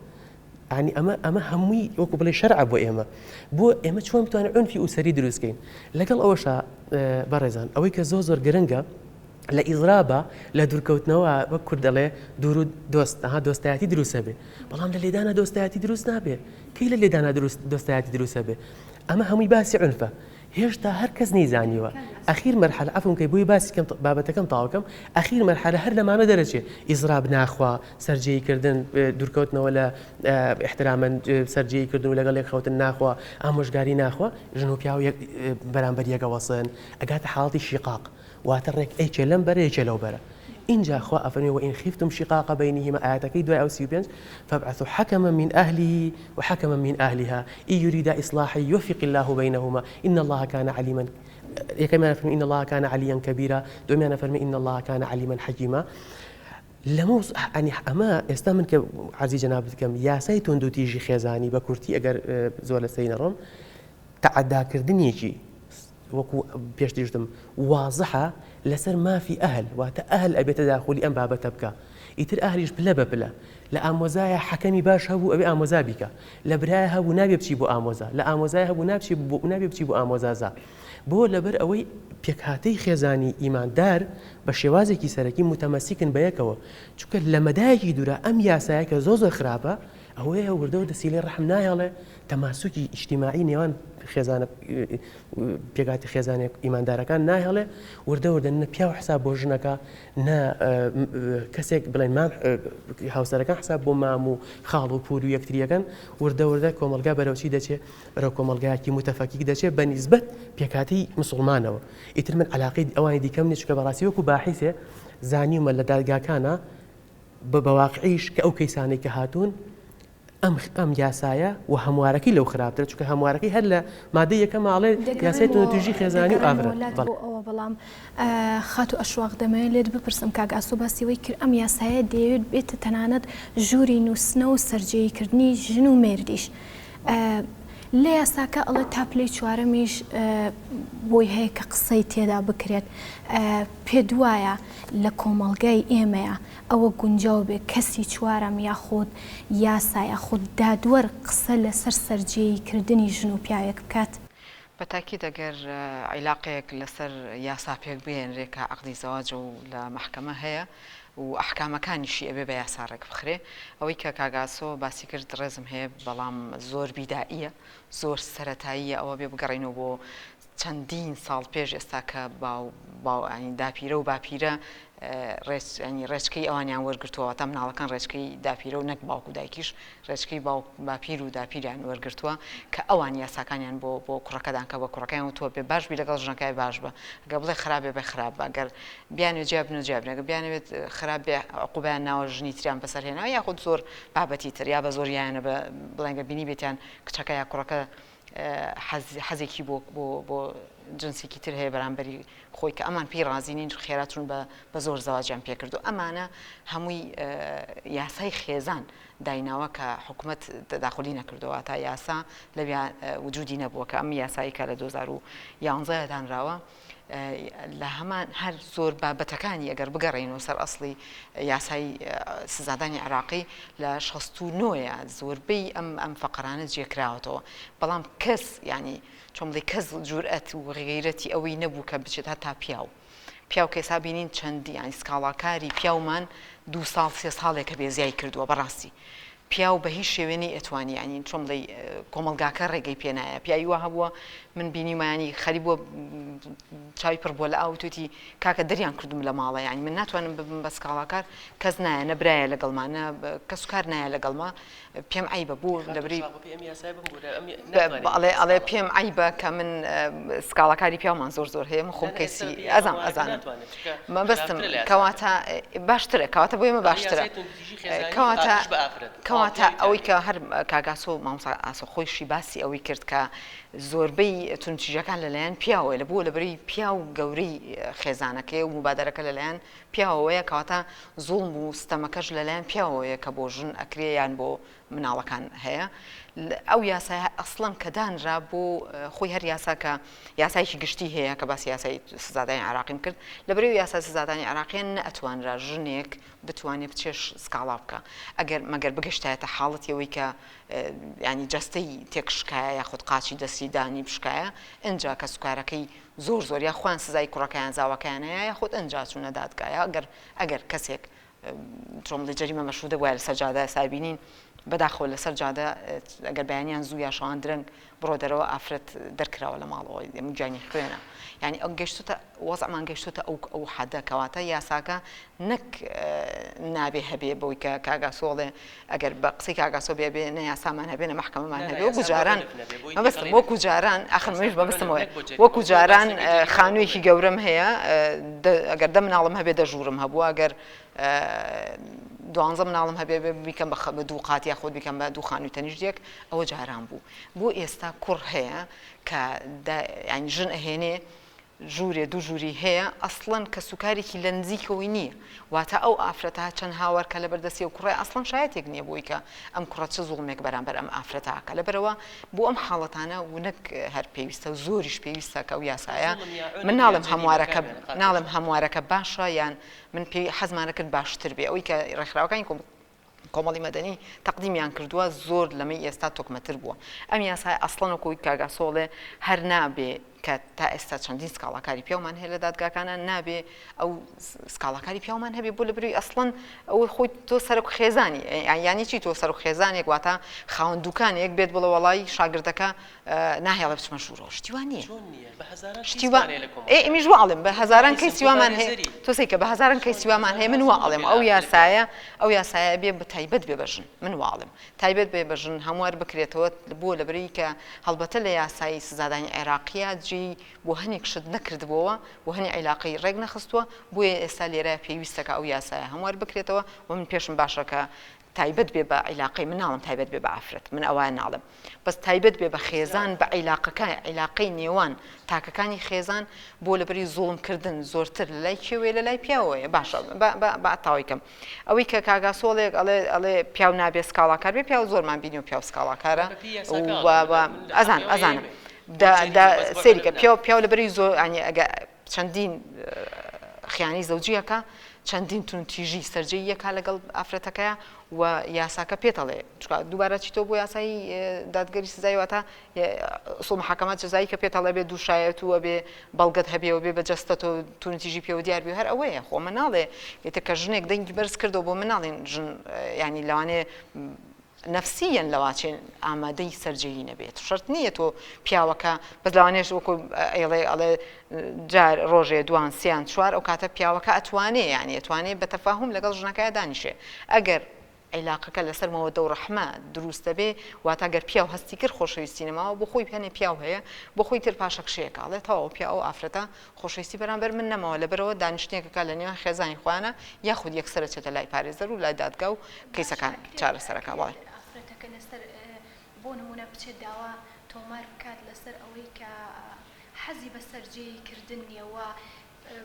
[SPEAKER 3] یەعنی ئەمە ئەمە هەمووی وەکو بڵێ شەرع بۆ ئێمە بۆ ئێمە چۆن بتوانین ئەنفی ئوسەری دروستکەین لەگەڵ ئەوەشە بەڕێزان ئەوەی کە زۆر زۆر گرنگە لە ئیزرابە لە دوورکەوتنەوە وەک کورد دەڵێ دوور و دۆست ها دۆستایەتی دروستە بێ بەڵام لە لێدانە دۆستایەتی دروست نابێ کەی لە لێدانە دروست دۆستایەتی دروستە بێ ئەمە هەمووی باسی عنفە هێشتا هەر کەس نەیزانیوە ئەخیر مەرحەلە عەفوم کەی بۆی باسی کەم بابەتەکەم تەواو کەم ئەخیر مەرحەلە هەر لەمانە دەرەچێ ئیزراب ناخوا سەرجێی کردن دورکەوتنەوە لە ئیحترامەن سەرجێی کردن و لەگەڵ یەک خەوتن ناخوا ئامۆژگاری ناخوا ژن و پیاو یەک بەرامبەر یەک ئەوەسن ئەگاتە حاڵەتی شیقاق واتە ڕێک ێکێ لەم بەرە ێکێ لەو بەرە ئینجا خوا ئەفەرمێ وە ئین خیفتم شقاق بینهما ئایەتەکەی دوای ئەو سی و پێنج فابعثوا حکما من اهله وحکما من اهلها ان یریدا اصلاحا یوفق الله بینهما ان الله کان علیما یەکەمیان فەرمی ان الله کان علیا کبیرا دومیان فەرمی ان الله کان علیما حکیما لەمە ئەنی ئەمە ئێستا من کە عزیز جناب بکەم یاسای تۆند و تیژی خێزانی بە کورتی ئەگەر زۆر لە سەی نەڕۆم تعداکردنیەکی وەکو پێشتریش وتم وازحە لەسەر مافی ئەهل واتە ئەهل ئەبێ تەداخولی ئەم بابەتە بکا ئیتر ئەهلیش پلە بە پلە لە ئامۆزایە حەکەمی باش هەبوو ئەوێ ئامۆزا بیکە لە برایە هەبوو نابێ بچی بۆ ئامۆزا لە ئامۆزای هەبوو نابچی بۆ نابێ بچی بۆ ئامۆزازا بۆ لەبەر ئەوەی پێکهاتەی خێزانی ئیماندار بە شێوازێکی سەرەکی متەمەسیکن بە یەکەوە چونکە لە مەدایەکی دوورا ئەم یاسایە کە زۆر زۆر خراپە ئەوەیە وردەوردە سیلەی ڕەحم نایەڵێ تەماسوکی ئیجتیماعی نێوان خێزانە پێکاتی خێزانێک ئیماندارەکان ناهێڵێ وردە وردە نە پیاو حساب بۆ ژنەکە نە کەسێک بڵێن مام هاوسەرەکان حساب بۆ مام و خاڵ و پور و یەکتریەکەن وردە وردە کۆمەلگا بەرەوچی دەچێ بەرەو کۆمەلگایەکی متەفەکیک دەچێت بە نیسبەت پێکاتی مسلمانەوە ئیتر من علاقی ئەوانی دیکەم نیچکە بەڕاستی وەکو باحیسێ زانیومە لە دادگاکانە بە بەواقعیش کە ئەو کەیسانێک کە هاتوون ئەم یاسایە و هەموارەکەی لەو خراپترە چونکە هەموارەکەی هەر لە مادەی یەکەمە ئەڵێ یاسای توندوتیژی خێزانی و ئافرەت. دەگەڕێمەوە لات بۆ ئەوە بەڵام
[SPEAKER 1] خاتوو ئەشواق دەمەوێت لێت بپرسم کاک ئاسۆ باسی ئەوەی کرد ئەم یاسایە دەیەوێت بێتە تەنانەت ژووری نووستنەوە و سەرجێی کردنی ژن و مێردیش لە یاساکە ئەڵێ تا پلەی چوارەمیش بۆی هەیە کە قسەی تێدا بکرێت پێت وایە لە کۆمەڵگای ئێمەیە ئەوە گونجاو بێ کەسی چوارەم یاخود یاسا یاخود دادوەر قسە لەسەر سەرجێیی کردنی ژن و پیاوێک بکات. بە تاکید
[SPEAKER 2] ئەگەر عیلاقەیەک لەسەر یاسا پێک بهێنرێ کە عەقدی زەواجە و لە مەحکەمە هەیە و ئەحکامەکانیشی ئەبێ بە یاسا ڕێک بخرێ. ئەوەی کە کاک ئاسۆ باسی کرد ڕێزم هەیە بەڵام زۆر بیدائییە زۆر سەرەتاییە ئەوە بێ بگەڕێینەوە بۆ چەندین ساڵ پێش ئێستا کە باو باو ینی داپیرە و باپیرە ڕێچ ینی ڕێچکەی ئەوانیان وەرگرتووە واتە مناڵەکان ڕێچکەی داپیرە و نەک باوک و دایکیش ڕێچکەی باوک باپیر و داپیریان وەرگرتووە کە ئەوان یاساکانیان بۆ بۆ کوڕەکەدان کە بە کوڕەکەیان و تۆ بێ باش بی لەگەڵ ژنەکای باش بە گە بڵێ خراپێ بە خراپ بە گەر بیانێ جیاب نە جیاب نەگە بیانەوێت خراپ بێ عقوبیان ناوە ژنی تریان بەسەر هێنا یاخود زۆر بابەتی تر یا بە زۆریانە بە بڵێنگە بینی بێتیان کچەکە یا کوڕەکە حەزێکی بۆ بۆ جنسێکی تر هەیە بەرامبەری خۆی کە ئەمان پێی ڕازی نین خێراتون بە زۆر زەواجیان پێکردو ئەمانە هەمووی یاسای خێزان دایناوە کە حکوومەت داخلی نەکردەوە تا یاسا لەویا وجودی نەبووە کە ئەم یاساییکە لە 2011 دانراوە. لە هەمان هەر زۆر بابەتەکانی ئەگەر بگەڕین و سەر ئەسڵی یاسای سزادانی عراقی لە 1690ە زۆربەی ئەم ئەم فەقرانە جێکراوەتەوە بەڵام کەس ینی چۆمڵی کەس جورئەت و غیرەتی ئەوەی نەبوو کە بچێت هەتا پیاو پیاو کەسا بینین چەندی یانی سکاڵاکاری پیاومان دو ساڵ سێ ساڵێکە بێزیای کردووە بەڕاستی پیاو بە هیچ شێوێ نەی ئەتوانی یانی چۆن بڵێی کۆمەڵگاکە ڕێگەی پێ نایە پیاوی وا هەبووە من بینیومە یانی خەری بووە چاوی پڕ بووە لە ئاو توتی کاکە دەریان کردوم لە ماڵە یانی من ناتوانم ببم بە سکاڵاکار کەس نایە نە برایە لەگەڵما نە کەس و کار نایە لەگەڵما پێم عەیبە بوو لەبری بەڵێ ئەڵێ پێم عیبە کە من سکاڵاکاری پیامان زۆر زۆر هەیە من خۆم کەسی ئەزان ئەزانم مەبستم کەواتە باشترە کەواتە بۆ ئێمە باشترە کەواتە کەواتە ئەوەی کە هەر کاک ئاسۆ و مامۆستا ئاسۆ خۆیشی باسی ئەوەی کرد کە زۆربەی توندوتیژەکان لەلایەن پیاوەوەیە لە بۆ لەبەری پیا و گەورەی خێزانەکەی و مبادرەکە لەلایەن پیاوەوەیە کەواتە زوڵم و ستەمەکەش لەلایەن پیاوەوەیە کە بۆ ژن ئەکرێ یان بۆ مناڵەکان هەیە ئەو یاسای ئەسڵەن کە دانرا بۆ خۆی هەر یاسا کە یاسایکی گشتی هەیە کە باسی یاسای سزادانی عراقیم کرد لە بەرەو یاسا سزادانی عراقیان نەتوانرا ژنێک بتوانێ بچێ سکاڵا بکا ئەگەر مەگەر بگەشتایەتە حاڵەتی ئەوەی کە ینی جەستەی تێکشکایە یاخود قاچی دەستی دانی بشکایە ئەجا کە سوکارەکەی زۆر زۆر یا خوان سزای کوڕەکەیان زاوەکانەیە یاخود ئەجا چوونە دادگایە ئەگەر ئەگەر کەسێک تۆمڵی جەریمە مەشودە وایە لەسەر جادە سابینین بەداخەوە لەسەر جادە ئەگەر بەیانیان زوو یا شەوان درەنگ بڕۆ دەرەوە ئافرەت دەرکراوە لە ماڵەوە ئەمە گیانی خوێنە یانی ئەم گەشتوتە وەزعمان گەشتوتە ئەو ئەو حەدە کەواتە یاساکە نەک نابێ هەبێ بەوەی کە کاگاسۆڵێ ئەگەر بە قسەی کاگاسۆ بێ بێ نە یاسامان هەبێ نە محکەمەمان هەبێ وەکو جاران مەبەستم وەکو جاران ئاخر منیش مەبەستمەوە وەکو جاران خانوویەکی گەورەم هەیە ئەگەر دە مناڵم هەبێ دەژوورم هەبووە ئەگەر دوانزە مناڵم هەبێ بیکەم بە دوو قات یاخود بیکەم بە دوو خانووی تەنیشتێک ئەوە جاران بوو بۆ ئێستا کوڕ هەیە کە یانی ژن ئەهێنێ ژوورێ دوو ژووری هەیە ئەسڵەن کە سوکارێکی لە نزیکەوەی نییە واتە ئەو ئافرەتە چەند هاوار کە لە بەردەستی و کوڕای ئەسڵەن شایەتێک نییە بۆی کە ئەم کوڕە چ زوڵمێک بەرامبەر ئەم ئافرەتاکە لەبەرەوە بۆ ئەم حاڵەتانە ونەک هەر پێویستە و زۆریش پێویستە کە و یاسایە من ناڵم هەموارەکە ناڵم هەموارەکە باشە یان من پێی حەزمانەکرد باشتر بێ ئەوی کە ڕێکخراوەکانی کۆم کۆمەڵی مەدەنی تەقدیمیان کردووە زۆر لەمەی ئێستا تۆکمەتر بووە ئەم یاسایە ئەسڵەن وەکو وی کاک ئاسۆ ئەڵێ هەر نابێ کە تا ئێستا چەندین سکاڵاکاری پیاومان هەیە لە دادگاکانە نابێ ئەو سکاڵاکاری پیاومان هەبێ بۆ لە بروی ئەسڵەن ئەوەی خۆی تۆ سەرک خێزانی یانی چی تۆ سەرک خێزانێک واتە خاوەن دوکانێک بێت بڵە وەڵی شاگردەکە ناهێڵێ بچمە ژوورەوە شتی وا نییە چۆن نییە بە هەزاران کەیس شتی وا وانەیە لە کۆمەڵگا. ئێ ئیمیش وا ئەڵێم بە هەزاران کەیسی کەیسی وامان هەیە متبارێزەری. تۆ سەیکە بە هەزاران کەیسی چۆن وامان هەزاران هەیە من وا چۆن ئەڵێم بێ ئەو ئاخرەت یاسایە ئەو یاسایە بێ بە تایبەت بێ بە ژن من وا ئەڵێم تایبەت بێ بە ژن هەموار بکرێتەوە بۆ لەبەرەی کە هەڵبەتە لە یاسای سزادانی عێراقییە جێی بۆ هەنێک شت نەکردبۆوە بۆ هەنێ عیلاقەی ڕێک نەخستووە بۆیە ئێستا لێرە پێویستەکە ئەو یاسایە هەموار بکرێتەوە و من پێشم باشە کە تایبەت بێ بە عیلاقەی من ناڵم تایبەت بێ بە ئافرەت من ئەوە ناڵم بەس تایبەت بێ بە خێزان بە عیلاقەکە عیلاقەی نێوان تاکەکانی خێزان بۆ لەبری زۆڵمکردن زۆرتر لە لای کێوێ لە لای پیاوەیە باشە باتاویکەم ئەوەی کە کاگا سۆڵێک ئەڵێ ئەڵێ پیاو نابێ سکاڵاکار بێ پیاو زۆرمان بینی و پیاو سکاڵاکارە ئەزان ئەزانم سریکە پیاو پیاو لەبری زۆر ئەگە چەندین خیانەی زەوجی ئەکا، چەندین توندتیژی سەرجێی ئەکا لەگەڵ ئافرەتەکەیا و یاساکە پێت ئەڵێ چونکە دووبارە چیتەوە بۆ یاسای دادگەری سزای واتە ئوسوڵ محاکەمە جەزایی کە پێت هەڵێ بێ دوو شایەت و ئەبێ بەڵگەت هەبێەوە بێ بە جەستە تۆ توندتیژی پێوە دیار بێ هەر ئەوەیە خۆ مناڵێ ئێتە کە ژنێک دەنگی بەرز کردەوە بۆ مناڵین ژن ینی لەوانێ نەفسیەن لەواچێن ئامادەی سەرجێیی نەبێت شەرت نیە تۆ پیاوەکە بەس لەوانێش وەکو ئەیڵێ ئەڵێ جار ڕۆژێ دوان سیان چوار ئەو کاتە پیاوەکە ئەتوانێ یانی ئەتوانێ بە تەفاهم لەگەڵ ژنەکەیا دانیشێ ئەگەر عیلاقەکە لەسەر مەوەدە و ڕەحمە دروست دەبێ واتا گەر پیاو هەستی کرد خۆشەویستی نەماوە بۆ خۆی هەنێ پیاو هەیە بۆ خۆی تر پاشەکشەیەکە ئەڵێ تەواو پیاو ئەو ئافرەتە خۆشەویستی بەرامبەر من نەماوە لەبەرئەوە دانیشتنێکەکە لە نێوان خێزانی خۆیانە یاخود یەکسەر ئەچێتە لای پارێزەر و لای دادگا و کەیسەکان چارەسەر ئەکا بەڵێ. ئەگەر ئافرەتەکە لەسەر
[SPEAKER 1] بۆ نمونە بچێت داوا تۆمار بکات لەسەر ئەوەی کە حەزی بە سەرجێیی کردن نیە و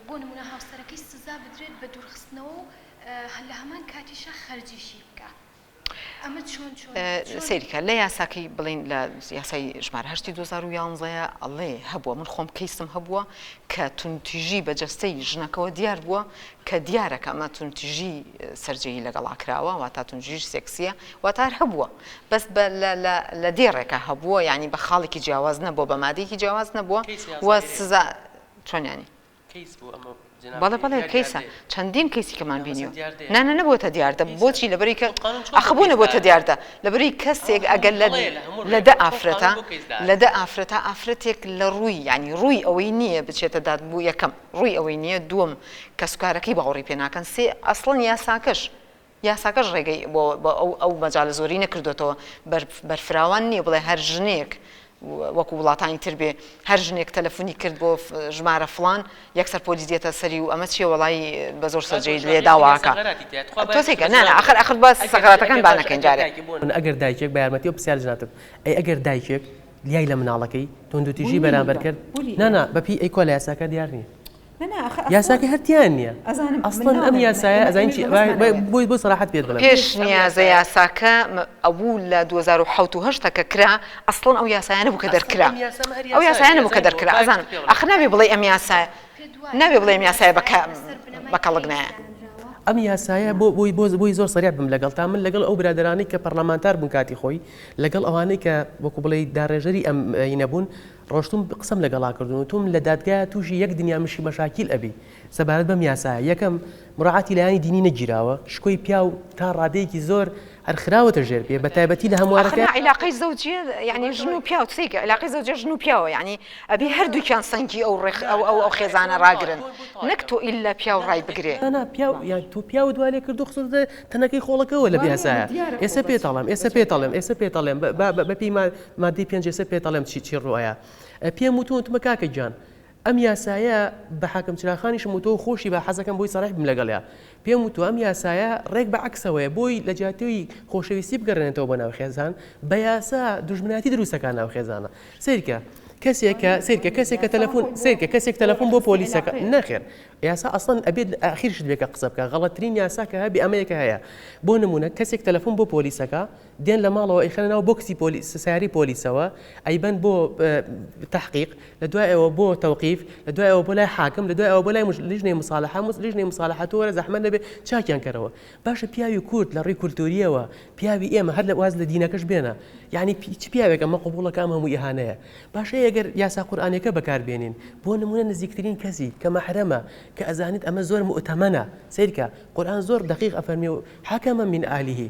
[SPEAKER 1] بۆ نمونە هاوسەرەکەی سزا بدرێت بە دورخستنەوە و لە هەمان کاتیشا خەرجیشی بکا. سەیرکە لە
[SPEAKER 2] یاساکەی بڵین لە یاسای ژمار هەشتی 2011 ئەڵێ هەبووە من خۆم کەیسم هەبووە کە تونتیژی بە جەستەی ژنەکەەوە دیار بووە کە دیارەکە ئەمە تونتیژی سەررجەی لەگەڵا کراوە وا تا تونجیش سێکسیە واتار هەبووە بەس لە دێڕێکە هەبووە ینی بە خاڵێکی جیاواز نەبووە بە مادێکی جیاواز نەبووە وە سزا چۆنیانی بەڵێ بەڵێ کەیسە چەندین کەیسی کەمان بینیوە نانە نەبووتە دیاردە بۆچی لەبری کە ئەخبوونە بۆتە دیاردە لەبری کەسێک ئەگەر لە لە دە ئافرەتە لە دە ئافرەتە ئافرەتێک لە ڕووی ینی ڕووی ئەوەی نییە بچێتە داد بوو یەکەم ڕووی ئەوەی نییە دووەم کەسکارەکەی باوەڕی پێناکەن سێ ئەسڵەن یاساکەش یاساکەش ڕێگەی بۆ بۆ ئەو ئەو مەجالە زۆرەی نەکردۆتەوە، بەر بەرفراوان نییە بڵێ هەر ژنێک وەکو وڵاتانی تر بێ هەر ژنێک تەلەفونی کرد بۆ ژمارە فڵان یەکسەر پۆلیس دێتە سەری و ئەمە چییە وەڵایی بە زۆر سەرجێی لێ داواکا تۆسێکە نا نا ئەخەر ئەخەر بە سەغراتەکان با نەکەین جارێ. من ئەگەر دایکێک بە
[SPEAKER 3] یارمەتی ئەو پرسیارە جنابتم ئەی ئەگەر دایکێک لیای لە مناڵەکەی توندوتیژی بەرامبەر کرد نا نا بەپی ئەی کوا لە یاساکا دیار نییە؟ یاساکە هەر تیایان نیە ئەسڵەن ئەم یاسایە ئەزانین چی بۆی بۆ سەراحەت پێت بڵێم پێشنیازە یاساکە
[SPEAKER 2] ئەبوو لە دوو هەزار و حەوت و هەشت کە کرا ئەسڵەن ئەو یاسایە نەبوو کە دەرکرا ئەو یاسایە نەبوو کە دەرکرا ئەزانم ئاخر نابێ بڵێی ئەم یاسایە نابێ بڵێم یاسایە بە بە کەڵک نایە ئەم یاسایە
[SPEAKER 3] بۆ بۆی بۆ بۆی زۆر سەریع بم لەگەڵ تا من لەگەڵ ئەو برادرانی کە پەرلەمانتار بوون کاتی خۆی لەگەڵ ئەوانەی کە وەکو بڵێ داڕێژەری ئەم نەبوون ڕۆشتوم قسەم لەگەڵا کردون وتوم لە دادگایە توشی یەک دنیا مشی مەشاکیل ئەبی سەبارەت بەم یاسایە یەکەم مراعاتی لایەنی دینی نەگیراوە شکۆی پیاو تا ڕادەیەکی زۆر هەر خراوەتە ژێر پێ بە تایبەتی لە هەموارەکە. ئەخر نا عیلاقەی زەوجیە
[SPEAKER 2] یەعنی ژن و پیاو تفیک عیلاقەی زەوجیە ژن و پیاوە یەعنی ئەبی هەردوکیان سەنگی ئەو ڕێخ ئەو ئەو ئەو خێزانە ڕاگرن نەک تۆ ئیلا پیاو ڕای بگرێ. نا نا پیاو یان تۆ
[SPEAKER 3] پیاوت وا لێ کردوە خستۆتە تەنەکەی خۆڵەکەوە لەم یاسایە ئێسە پێت ئەڵێم ئێسە پێت ئەڵێم ئێسە پێت ئەڵێم بە بە بە پێی ما مادەی پێنج ئێسە پێت ئەڵێم چی چی ڕوئایە پێم وتو وتمە کاکە گیان ئەم یاسایە بە حاکم چراخانیشم وتۆ خۆشی بە حەزەکەم بۆی سەڕح بم لەگەڵیا پێم وتو ئەم یاسایە ڕێک بە عکسەوەیە بۆی لە جاتیوی خۆشەویستی بگەڕێنێتەوە بە ناو خێزان بە یاسا دژمنایەتی دروستەکان ناو خێزانە سیرکە کەسێکە سیرکە کەسێکە تەلەفۆن سیرکە کەسێک تەلەفۆن بۆ پۆلیسەکە نەخێر یاسا ئەسڵەن ئەبێت ئاخیرشت بێکە قسە بکە غەڵەترین یاسا کە هەبی ئەمەیەکە هەیە بۆ نمونە کەسێک تەلەفۆن بۆ پۆلیسەکە دێن لە ماڵەوە ئەیخەنە ناو بۆکسی پۆلیس سیارەی پۆلیسەوە ئەیبەن بۆ تەحقیق لە دوای ئەوە بۆ تەوقیف لە دوای ئەوە بۆ لای حاکم لە دوای ئەوە بۆ لای لیژنەی مساالحە مس لیژنەی مساالحە تۆ وەرە زەحمە نەبێ چاکیان کەرەوە باشە پیاوی کورد لە ڕێی کولتوریەوە پیاوی ئێمە هەر لە واز لە دینەکەش بێنە یعنی چ پیاوێک ئەمە قوبوڵەکە ئەم هەموو ئیهانەیە باشە ئەگەر یاسا قورآانەکە بەکاربێنین بۆ نمونە نزیکترین کەسی کە مەحرەمە کە ئەزانیت ئەمە زۆر مؤتەمەە سیرکە قورآان زۆر دقیق ئەفەرمی و حکەمە من ئالیه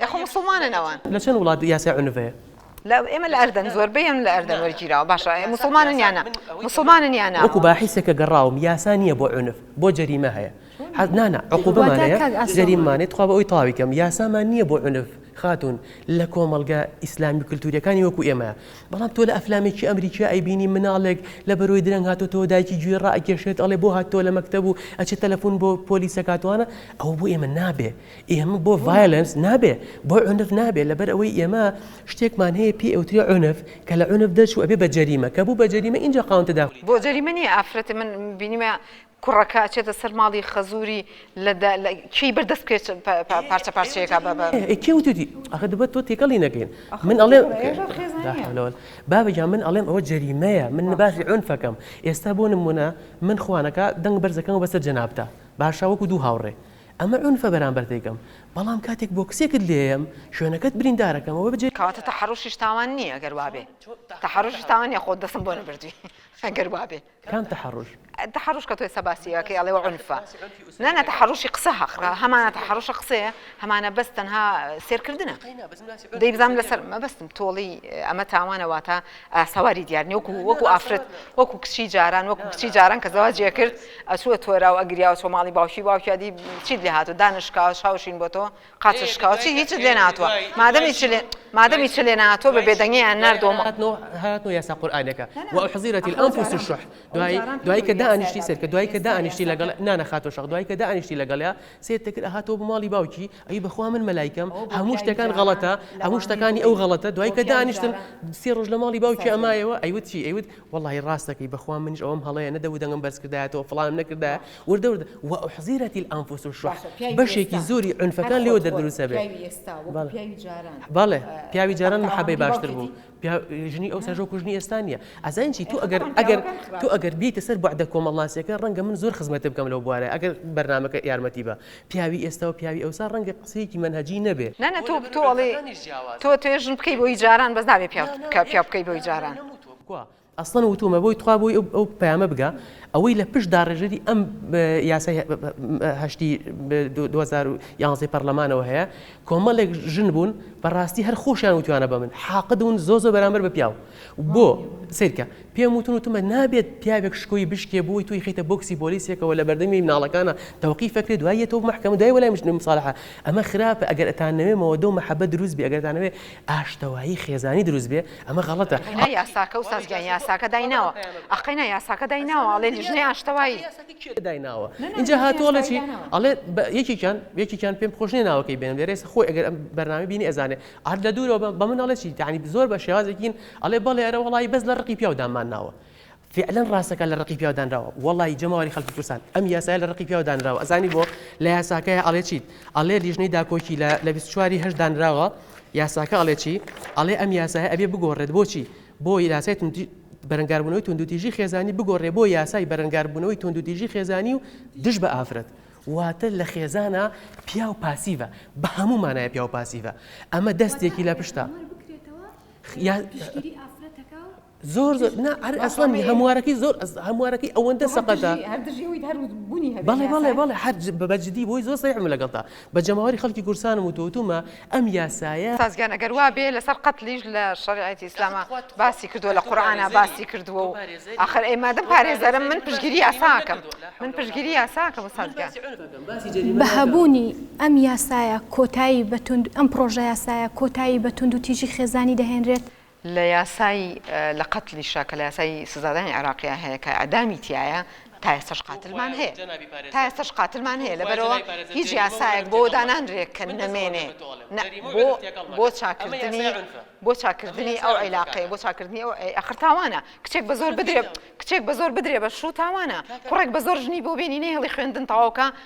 [SPEAKER 2] ئێ خۆ موسڵمانن ئەوان. لە چەند وڵات یاسای
[SPEAKER 3] عنف هەیە؟ لە ئێمە لە
[SPEAKER 2] ئەردەن زۆربەی ئەم لە ئەردەن وەرگیراوە باشە ئێ موسڵمانن یا نا موسڵمانن یا نا. وەکو باحیسێک کە گەڕاوم
[SPEAKER 3] یاسا نیە بۆ عنف بۆ جەریمە هەیە حەز نا نا عقوبەمان واتە هەیە کاک ئاسۆ. جەریممانەی تخوا بۆ ئەوی تەواوی کەم یاسامان نیە بۆ عنف خاتون لە کۆمەڵگە ئیسلامی و کلتوریەکانی وەکو ئێمە بەڵام تۆ لە ئەفلامێکی ئەمریکی ئەیبینی مناڵێک لە بەرۆی درەنگ هاتۆتەوە دایکی گوێی ڕائەکێشێت ئەڵێ بۆ هاتتەوە لە مەکتەب و ئەچێ تەلەفون بۆ پۆلیس ئەکات وانە ئەوە بۆ ئێمە نابێ ئێمە بۆ ڤایلنس نابێ بۆ عنف نابێ لەبەر ئەوەی ئێمە شتێکمان هەیە پێ ئەوتری عنف کە لە عنف دەرچوو ئەبێ بە جەریمە
[SPEAKER 2] کە
[SPEAKER 3] بوو بە جەریمە
[SPEAKER 2] ئینجا
[SPEAKER 3] قاونتە
[SPEAKER 2] داخلی
[SPEAKER 3] بۆ جەریمە نییە ئافرەتێ من بینیمە کوڕەکە
[SPEAKER 2] ئەچێتە سەر ماڵی خەزووری لە کێی بەر دەست پێچ پارچە پارچەیەکە بە کێ وتوتی
[SPEAKER 3] ئەخە دەبێت تۆ تێکەڵی نەکەین من ئەڵێ بابەجا من ئەڵێم ئەوە جەریمەیە من نباسی عنفەکەم ئێستا بۆ نمونە من خوانەکە دەنگ بەرزەکەم بەسەر جەنابتە باشە وەکو دوو هاوڕێ ئەمە عونفە بەرامبەر دەیکەم، بەڵام کاتێک بۆکسێکت لێیەم، شوێنەکەت بریندارەکەم، ئەوە بەجێ. کەواتە تەحەڕوشیش تاوان
[SPEAKER 2] نییە گەر وابێ؟ تەحەڕوشیش تاوان نییە خۆت دەستم بۆ نەبردوی گەر وابێ. کام تەحەڕوش؟
[SPEAKER 3] تەحەڕوش کە تۆ ئێستا
[SPEAKER 2] باسی ئەکەی ئەڵێی عونفە. نا نا تەحەڕوشی قسە هەقە، هەمانە تەحەڕوشە قسەیە، هەمانە بەس تەنها سێرکردنە. دەی بزانم لەسەر مەبەستم تۆڵی ئەمە تاوانە واتە سواری دیار نیە وەکو وەکو ئافرەت وەکو کچی جاران وەکو کچی جاران کە زەواجێ کرد ئەسووە تۆرا و ئەگریاوە چۆ ماڵی باوکی باوکیادی چیت لێ هاتو دانشکاوە شاوشین بۆ تۆ قاچە شکاوچی هیچت لێ ناتوە مادەمی چ لێ مادەمی چ لێ ناتۆ بە بێدەنگیان نردۆم هاتۆ یاسا
[SPEAKER 3] قورآانەکە و حزیرەتی ئەوفوس شح دوای دوای کە دانیشتی سەر کە دوای کە دانیشتی لەگەڵ نانەخاتۆ شەق دوای کە دانیشتی لەگەڵیا سێت دەکرد هاتۆ بۆ ماڵی باوکی ئەی بەخوا من مەلایکەم هەموو شتەکان غەڵەتە هەموو شتەکانی ئەو غەڵەتە دوای کە دانیشتن سێ ڕۆژ لە ماڵی باوکی ئەمایەوە ئەیوت چی ئەیوت وەڵی ڕاستەکەی بەخوا منیش ئەوم هەڵەیە نەدەبوو دەنگم بەرزکردایەتەوە فڵانم نەکردایە وردە وردە و ئوحزیرەتی الانفس الشح بەشێکی زۆری عنفەکان لێوە دەردروسە بێ بەڵێ پیاوی جاران محەبەی باشتر بوو پیا ژنی ئەو سەرژۆ کوژنی ئێستا نیە ئەزان چی تو ئەگەر ئەگەر تو ئەگەر بیتە سەر بەعدە کۆمەڵناسیەکە ڕەنگە من زۆر خزمەت بکەم لەو بوارە ئەگەر بەرنمەکە یارمەتی بە پیاوی ئێستا و پیاوی ئەوسا ڕەنگە قسەیەکی منهجی نەبێ نەنە تۆ تۆڵێ
[SPEAKER 2] تۆ توێژن بکەی بۆی جاران بەس نابێ پیا بکە پیا بکەی بۆی جاران. ئەسڵەن
[SPEAKER 3] وتوومە بۆی تخوا بۆی ئەو پەیامە بگا ئەوەی لە پشت داڕێژەری ئەم یاسای هەشتی یانزەی پەرلەمانەوە هەیە کۆمەڵێک ژن بوون بەڕاستی هەر خۆشیان وتوانە بە من حاقدون زۆ زۆ بەرامبەر بە پیاو بۆ سیرکە پێم وتون وتمە نابێت پیاوێک شکۆی بشکێ بۆی توی خیتە بۆکسی بۆلیسێکەوە لە بەردەمی مناڵەکانە تەوقی فەکرێت دوایە تۆ محکەمە دوای وەلای مشتم ساڵحە ئەمە خراپە ئەگەر ئەتانەوێمەوە دۆ محەبە دروست بێگەرتانەوێ ئاشتەوایی خێزانی دروست بێ ئەمە غەڵەتە. قەینا یاساکە وساز
[SPEAKER 2] گیان یاساکە دایناوە ئەخ قەینا یاساکە دایناوە ئەڵێ لیژنەی ئاشتەوایی. کێ دایناوە
[SPEAKER 3] ئینجا هاتوە ئەڵێ چی ئەڵێ یەکێکیان یەکێکیان پێم خۆش نیە ناوەکەی بێنم لێرە ئێستا خۆی ئەگەر ئەم بەرنامەی بینی ئەزانێ ئەرد لە دوورەوە بە من ئەڵێ چی یانی زۆر بە شێوازێکین ئەڵێ بەڵێ ئەرە وەڵایی بەس لە ڕقی پیاو دامانناوە فیعلەن ڕاستەکا لە ڕقی پیاو دانراوە وەڵایی جەماوەری خەڵکی کوردستان ئەم یاسایە لە ڕقی پیاو دانراوە ئەزانی بۆ لە یاساکەیا ئەڵێ چیت ئەڵێ لیژنەی داکۆکی لە لە بیست و چوار ی هەشت دانراوە یاساکە ئەڵێ چی ئەڵێ ئەم یاسایە ئەبێ بگۆڕێت بۆچی بۆ یاسای توندی بەرەنگاربوونەوەی توندوتیژی خێزانی بگۆڕێ بۆ یاسای بەرەنگاربوونەوەی توندوتیژی خێزانی و دژ بە ئافرەت واتە لە خێزانە پیاو پاسیڤە بە هەموو مانایە پیاو پاسیڤە ئەمە دەستێکی لە پشتە یا- پشتگیری ئافرەتەکە و زۆر زۆر نا هەر ئەسڵەن هەموارەکەی زۆر هەموارەکەی ئەوەندە سەقەتە بەڵێ بەڵێ بەڵێ هەر بەجددی بۆی زۆر سەیحم لەگەڵتا بە جەماوەری خەڵکی گورسانم و تۆتومە ئەم یاسایە سازگیان ئەگەر وا بێ
[SPEAKER 2] لەسەر قەتلیش لە شەریعەتی ئیسلاما باسی کردووە لە قورعانا باسی کردووە و ئاخر ئەی مادەم پارێزەرم من پشگیری یاساکەم من پشگیری یاساکەم سازگیان بە
[SPEAKER 1] هەبوونی ئەم یاسایە کۆتایی بە توند ئەم پڕۆژە یاسایە کۆتایی بە توندوتیژی خێزانی دەهێنرێت؟ لە یاسای
[SPEAKER 2] لە قەتلیشە کە لە یاسای سزادانی عێراقیا هەیە کە ئیعدامی تیایە تا ئێستەش قاتلمان هەیە تا ئێستەش قاتلمان هەیە لەبەرەوە هیچ یاسایەک بۆ دانانرێت کە نەمێنێ بۆ چاکردنی بۆ چاکردنی ئەو عیلاقەیە بۆ چاکردنی ئەو ئەخر تاوانە کچێک بە زۆر بدرێ کچێک بە زۆر بدرێ بە شوو تاوانە کوڕێک بە زۆر ژنی بۆ بێنی نەهێڵی خوێندن تەواوکە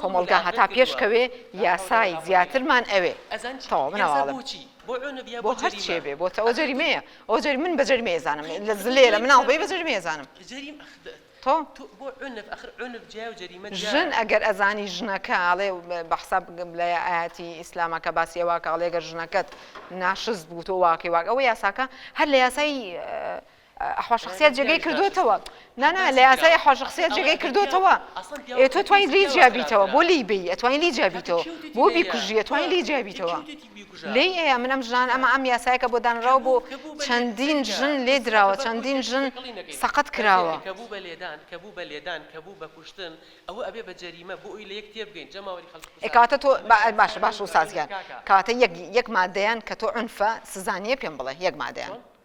[SPEAKER 2] کۆمەڵگا هەتا پێش کەوێ یاسای زیاترمان ئەوێ تەواو منەواڵم بۆ هەر چیە بێ بۆ تەوە جەریمەیە ئەو جەری من بە جەریمەیە زانم لە زلێ لە مناڵ بەی بە جەریمەیە زانم تۆ ژن ئەگەر ئەزانی ژنەکە ئاڵێ بە حساب بگەم لە ئاەتی ئیسلامەکە باسی واکە ئاڵێگەر ژنەکەت ناشز بوو تۆ واکەی واک ئەوە یاساکە هەر لە یاسای ئەحوا شەخسیات جێگەی کردۆتەوە نا نا لە یاسای ئەحوا شەخسیات جێگەی کردۆتەوە ئێ تۆ توانی لی جیا بیتەوە بۆ لی بی ئەتوانی لی جیا بیتەوە بۆ بیکوژی ئەتوانی لی جیا بیتەوە لێی ئەیە من ئەم ژنان ئەمە ئەم یاسایە کە بۆ دانراوە بۆ چەندین ژن لێ دراوە چەندین ژن سەقەت کراوە کە بوو بە لێدان کە
[SPEAKER 3] بوو بە لێدان کە بوو بە کوشتن ئەوە ئەبێ بە جەریمە بۆ ئەوی لە یەک تێبگەین جەماوەری خەڵکی کوژرا ئێ کەواتە تۆ با باشە
[SPEAKER 2] باشە وساز گیان کەواتە یەک یەک مادەیان کە تۆ عونفە سزا نییە پێم بڵێ یەک مادەیان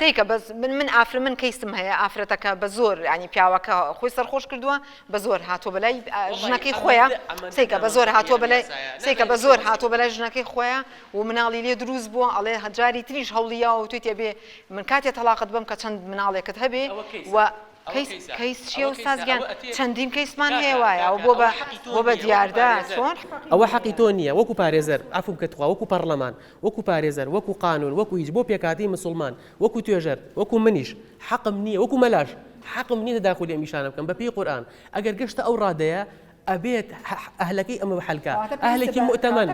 [SPEAKER 2] سەیکە بەس من من ئافرە من کەیسم هەیە ئافرەتەکە بە زۆر ینی پیاوەکە خۆی سەرخۆش کردووە بە زۆر هاتۆ بەلای ژنەکەی خۆیان سیکە بە زۆر هاتۆ بەلای سیکە بە زۆر هاتۆ بەلای ژنەکەی خۆیان و مناڵی لێ دروست بووە ئەڵێ هەجاری تریش هەوڵیا و توی تێبێ من کاتێ تەلاقت بم کە چەند مناڵێکت هەبێ و کەیس چیە و سازگیان چەندین کەیسمان هەیە وایە ئەو بۆ بە بۆ بە دیاردە چۆن ئەوە حەقی تۆ نییە
[SPEAKER 3] وەکو پارێزەر ئەفو بکە تخوا وەکو پەرلەمان وەکو پارێزەر، وەکو قانون، وەکو هیچ، بۆ پێکهاتەی مسوڵمان، وەکو توێژەر، وەکو منیش، حەقم نییە، وەکو مەلاش، حەقم نییە تەداخولی ئەم ئیشانە بکەم، بەپێی قورئان، ئەگەر گەشتە ئەو ڕادەیە، ئەبێت ئەهلەکەی ئەم بەحەلکا، ئەهلێکی موئتەمەن.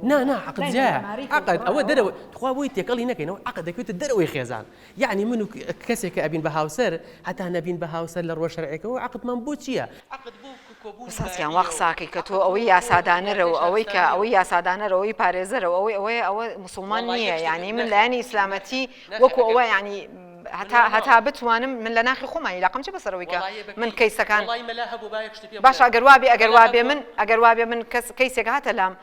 [SPEAKER 3] نا، نا، عەقد جیایە، عەقد، ئەوە دەرەوەی، تخوا بۆی تێکەڵی نەکەین، ئەوە عەقد، دەکەوێتە دەرەوەی خێزان، یەعنی من و کەسێک کە ئەبین بە هاوسەر هەتا نەبین بە هاوسەر لە ڕووە شەرعیەکەوە عەقدمان بۆ چیە؟ عەقد بۆ کۆبوونی بایەخ نیە و. ئوستاز
[SPEAKER 2] گیان وا قساکەی کە تۆ ئەوەی یاسادانەرە و ئەوەی کە ئەوەی یاسادانەرە ئەوەی پارێزەرە و ئەوەی ئەوەیە ئەوە موسوڵمان نیە یەعنی من لایەنی ئیسلامەتی وەکو ئەوە یەعنی هەتا هەتا بتوانم من لە ناخی خۆمانی لاقم چ بەسەر ئەوەی کە من کەیسەکان باشە ئەگەر وابێ ئەگەر وابێ من ئەگەر وابێ من کەس کەیسێک هاتە لام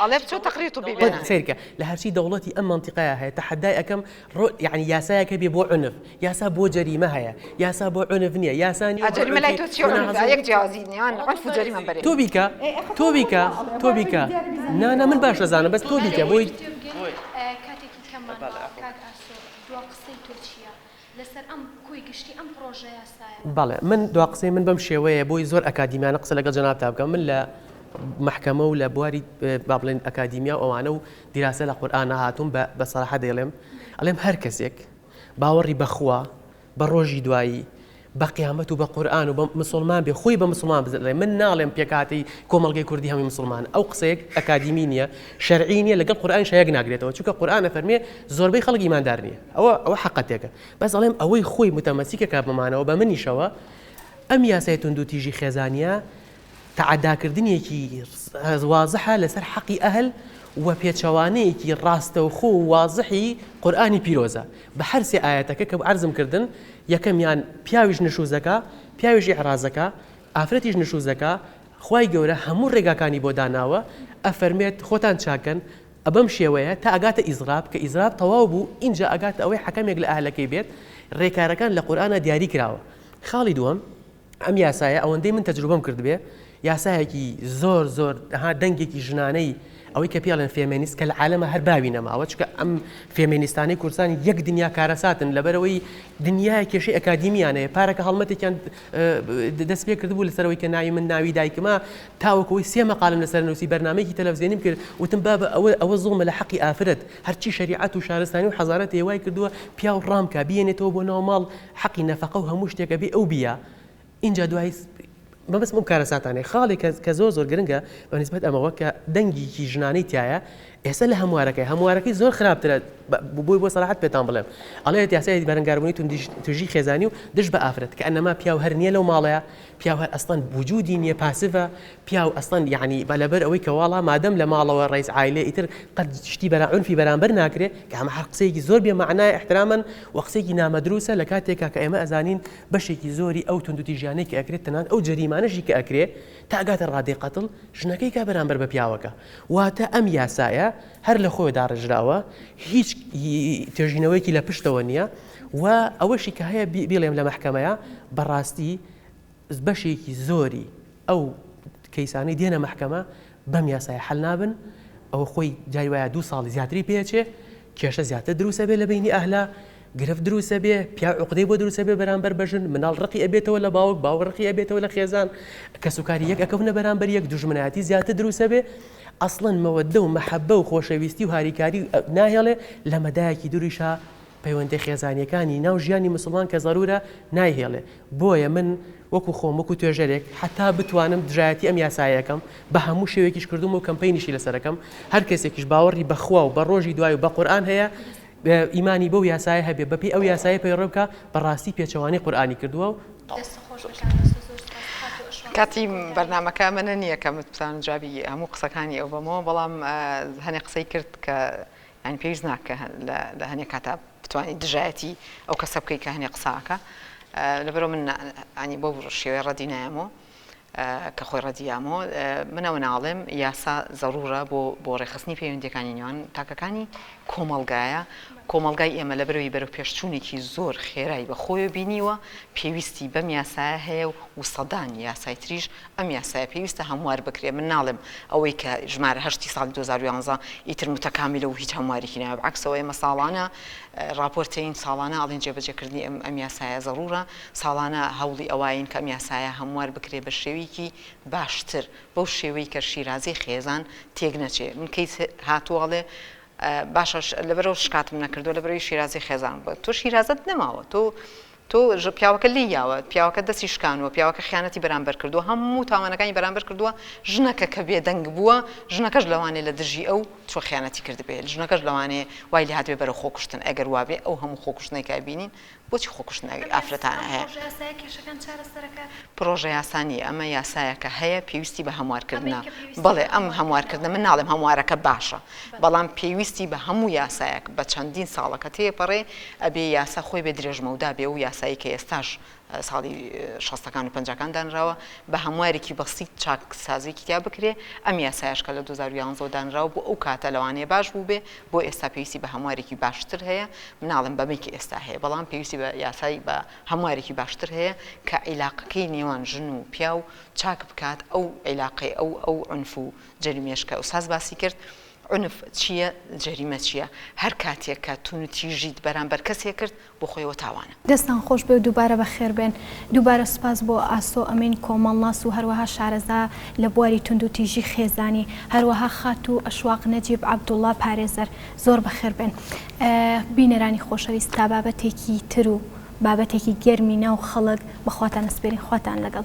[SPEAKER 2] ئەڵێ بچۆ تەقریر طبی بێنە. سەیرکە لە هەرچی
[SPEAKER 3] دەوڵەتی ئەم مەنتیقەیا هەیە تەحەدای ئەکەم ڕۆ یەعنی یاسایەک هەبێ بۆ عنف یاسا بۆ جەریمە هەیە یاسا بۆ عنف نیە یاسا نیە بۆ
[SPEAKER 2] عنف تۆ بیکە تۆ بیکە
[SPEAKER 3] تۆ بیکە نا نا من باش ئەزانم بەس تۆ بیکە بۆی.
[SPEAKER 1] لەسەر ئەم کۆی گشتی ئەم پڕۆژە یاسایە. بەڵێ من دوا قسەی
[SPEAKER 3] من بەم شێوەیە بۆی زۆر ئەکادیمیانە قسە لەگەڵ جەنابتا بکەم من لە محکمە و لە بواری با بڵێن ئەکادیمیا و ئەوانە و دیراسە لە قورئانە هاتووم بە بە سەراحە دەیڵێم ئەڵێم هەر کەسێک باوەڕی بەخوا بە ڕۆژی دوایی بە قیامەت و بە قورآن و بە مسلمان بێ خۆی بە مسلمان بزنێ من ناڵێم پێکاتی کۆمەلگەی کوردی هەمی مسلمان ئەو قسەیەک ئەکادیمی نییە شەرعی نیە لەگەڵ قورآن شەیەک ناگرێتەوە چونکە قورآن فەرمێ زۆربەی خەڵک ئیماندار نییە ئەوە ئەوە حەقەتێکە بەس ئەڵێم ئەوەی خۆی متەمەسیکە کە بەمانەوە بە منیشەوە ئەم یاسای توندوتیژی خێزانیە تەعەداکردنیەکی وازحە لەسەر حەقی ئەهل و پێچەوانەیەکی ڕاستەوخۆ و وازحی قورآانی پیرۆزە بە هەرسێ ئاەتەکە کە عرزم کردن یەکەمیان پیاویش نشوزەکە پیاویش عێرازەکە ئافرەتیش نشوزەکە خوای گەورە هەموو ڕێگاکانی بۆ داناوە ئەفەرمێت خۆتان چاکەن ە بەم شێوەیە تا ئەگاتە ئیزراب کە ئیزراب تەواو بوو ئینجا ئەگاتە ئەوەی حەکەمێک لە ئەهلەکەی بێت رێکارەکان لە قورئانا دیاری کراوە خاڵی دووەم ئەم یاسایە ئەوەندەی من تەجروبەم کردبێ یاسایەکی زۆر زۆر ها دەنگێکی ژنانەی ئەوەی کە پێڵێن فێمێنیست کە لە عالەمە هەر باوی نەماوە چکە ئەم فێمێنیستانەی کوردستان یەک دنیا کارەساتن لەبەرەوەی دنیا کێشەی ئەکادیمیانەیە پارەکە هەڵمەتێکیان دەست پێ کردبوو لەسەرەوەی کە ناوی من ناوی دایکمە تاوەکو ئەوەی سێ مەقالەم لەسەر نووسی، بەرنامەیەکی تەلەفزیۆنیم کرد، وتم بابە ئەوە ئەوە زوڵمە لە حەقی ئافرەت، هەرچی شەریعەت و شارستانی و حەزارەت هەیە وای کردووە پیاو ڕام کا، بیێنێتەوە بۆ ناو ماڵ، حەقی نەفەقە و هەموو شتێک ئەبێ ئەو بیا. ئینجا دوای. مەبەستم ئەو کارەساتانەیە. خاڵێک کە کە زۆر زۆر گرنگە بە نیسبەت ئەمەوە کە دەنگێکی ژنانەی تیایە، ئێستا لە هەموارەکەی، هەموارەکەی زۆر خراپترە بۆی بۆ سەراحەت پێتان بڵێم ئەڵێت یاسای بەرەنگاربوونی توندی توێژی خێزانی و دژ بە ئافرەت کە ئەنما پیاو هەر نییە لەو ماڵەیە، پیاو هەر ئەسڵەن وجودی نیە پاسڤە پیاو ئەسڵەن یەعنی بە لەبەر ئەوەی کە واڵا مادەم لە ماڵەوە ڕەیس عایلەیە ئیتر قەت شتی بەرام عونفی بەرامبەر ناکرێ کە ئەمە هەر قسەیەکی زۆر بێ مەعنایە احترامەن وە قسەیەکی نامەدروسە لە کاتێکا کە ئێمە ئەزانین بەشێکی زۆری ئەو توندوتیژیانەی کە ئەکرێ تەنانەت ئەو جەریمانەشی کە ئەکرێ تا ئەگاتە ڕادەی قەتڵ ژنەکەی کا بەرامبەر بە پیاوەکە واتە ئەم یاسایە هەر لە خۆێ داڕێژراوە هیچ توێژینەوەیەکی لە پشتەوە نیە. و ئەوەشی کە هەیە بیڵێم لە مەحکەمەیە بەڕاستی بەشێکی زۆری ئەو کەیسانەی دێنە مەحکەمە بەم یاسای حل نابن ئەوە خۆی جای وایە دوو ساڵی زیاتری پێچێ کێشە زیاتر دروسە بێ لە بینی ئەهلا گرف دروسە بێ پیا عقدەی بۆ دروسە بێ بەرامبەر بەژن مناڵ ڕقی ئەبێتەوە لە باوک باوە ڕقی ئەبێتەوە لە خێزان کە سوکاری یەک ئەکەونە بەرامبەر یەک دژمنایەتی زیاتر دروسە بێ ئەسڵەن مەوەدە و مەحەبە و خۆشەویستی و هاریکاری ناهێڵێ لە مەدایەکی دوریشە پەیوەندیە خێزانیەکانی ناو ژیانی موسڵمان کە زەرورە نایهێڵێ بۆیە من وەکو خۆم وەکو توێژەرێک حەتا بتوانم دژایەتی ئەم یاسایەکەم بە هەموو شێوێکیش کردومە و کەمپەینیشی لەسەرەکەم هەر کەسێکیش باوەڕی بە خوا و بە ڕۆژی دوای و بە قورئان هەیە ئیمانی بەو یاسایە هەبێ بەپێی ئەو یاسایە پەیڕەو بکا بەڕاستی پێچەوانەی قورئانی کردوە و
[SPEAKER 2] کاتی بەرنامەکە ئەمەنە نییە کە بتوانم جوابی هەموو قسەکانی ئەو بەمەوە بەڵام هەنێ قسەی کرد کە یانی پێویست ناکە لە هەنێ کاتا بتوانی دژایەتی ئەو کەسە بکەی کە هەنێ قساکە لەبەرو من ئەنی بۆ شێوەی ڕەدی نایەمەوە کە خۆی ڕەدیامۆ منەوە ناڵێم یاسا زەڕورە بۆ بۆ ڕێخستنی پەیوەندەکانی نێوان تاکەکانی کۆمەلگایە کۆمەلگای ئێمە لە بەرەوەی بەرە پێشچوونێکی زۆر خێرای بە خۆی بینیوە پێویستی بەم یاسایە هەیە و سەدان یاسای تریش ئەم یاسایە پێویستە هەموار بکرێت، من ناڵێم ئەوەی کە ژمارە هەشت ی ساڵی دوو هەزار و یازدە ئیتر متەکامیلە و هیچ هەموارێکی نایە، بەعەکسەوە ئێمە ساڵانە ڕاپۆرتەین، ساڵانە ئەڵێین جێبەجێکردنی ئەم یاسایە زەڕوورە، ساڵانە هەوڵی ئەواین کە ئەم یاسایە هەموار بکرێت بە شێوەیەکی باشتر، بەو شێوەی کە شیرازەی خێزان تێک نەچێت، من کەیس هاتووە ئەڵێ باشە لەبەرئەوە شکاتم نەکردووە لەبەرئەوەی شیرازەی خێزانم بووە، تۆ شیرازەت نەماوە، تۆ تۆ ژ پیاوەکە لێی یاوە، پیاوەکە دەستی شکانووە، پیاوەکە خیانەتی بەرامبەر کردووە، هەموو تاوانەکانی بەرامبەر کردووە، ژنەکە کە بێدەنگ بووە، ژنەکەش لەوانەیە لە دژی ئەو چووە خیانەتی کردبێ، ژنەکەش لەوانەیە وای لێ هاتبێ بەرەو خۆکوشتن، ئەگەر وا بێ ئەو هەموو خۆکوشتنەی کە ئەبینین بۆچی خۆکوشتن ئەوی ئافرەتان هەیە؟ ئەبێت سەو پڕۆژە یاسایە کێشەکان چارەسەر ئەکات؟ پڕۆژە یاسا نییە ئەمە یاسایەکە هەیە پێویستی بە هەموارکردنە، ئەمەی کە پێویستە بەڵێ ئەم هەموارکردنە من ناڵێم هەموارەکە باشە، بەڵام پێویستی بە هەموو یاسایەک بە چەندین ساڵە کە تێپەڕێ ئەبێ یاسا خۆی بێ درێژمەودا بێ و یاسایی کە ئێستاش ساڵی شەستەکان و پەنجاکان دانراوە بە هەموارێکی بەسیت چاکسازیەکی تیا بکرێ ئەم یاسایەش کە لە دوو هەزار و یانزە و دانراوە بۆ ئەو کاتە لەوانەیە باش بووبێ بۆ ئێستا پێویستی بە هەموارێکی باشتر هەیە من ناڵێم بەمەی کە ئێستا هەیە بەڵام پێویستی بە یاسای بە هەموارێکی باشتر هەیە کە عیلاقەکەی نێوان ژن و پیاو چاک بکات ئەو عیلاقەی ئەو ئەو عونف و جەریمەش کە ئوستاز باسی کرد عنف چیە جەریمە چیە هەرکاتێک کە تونوتیژیت بەرامبەر کەسێک کرد بۆ خۆیەوە تاوانە. دەستتان خۆش بێ و
[SPEAKER 1] دووبارە بەخێر بێن. دووبارە سوپاس بۆ ئاسۆ ئەمین کۆمەڵناس و هەروەها شارەزا لە بواری توندوتیژی خێزانی، هەروەها خاتوو ئەشواق نەجیب عەبدوڵا پارێزەر. زۆر بەخێر بێن. بینەرانی خۆشەویست تا بابەتێکی تر و بابەتێکی گەرمی ناو خەڵک بە خواتان ئەسپێرین. خواتان لەگەڵ.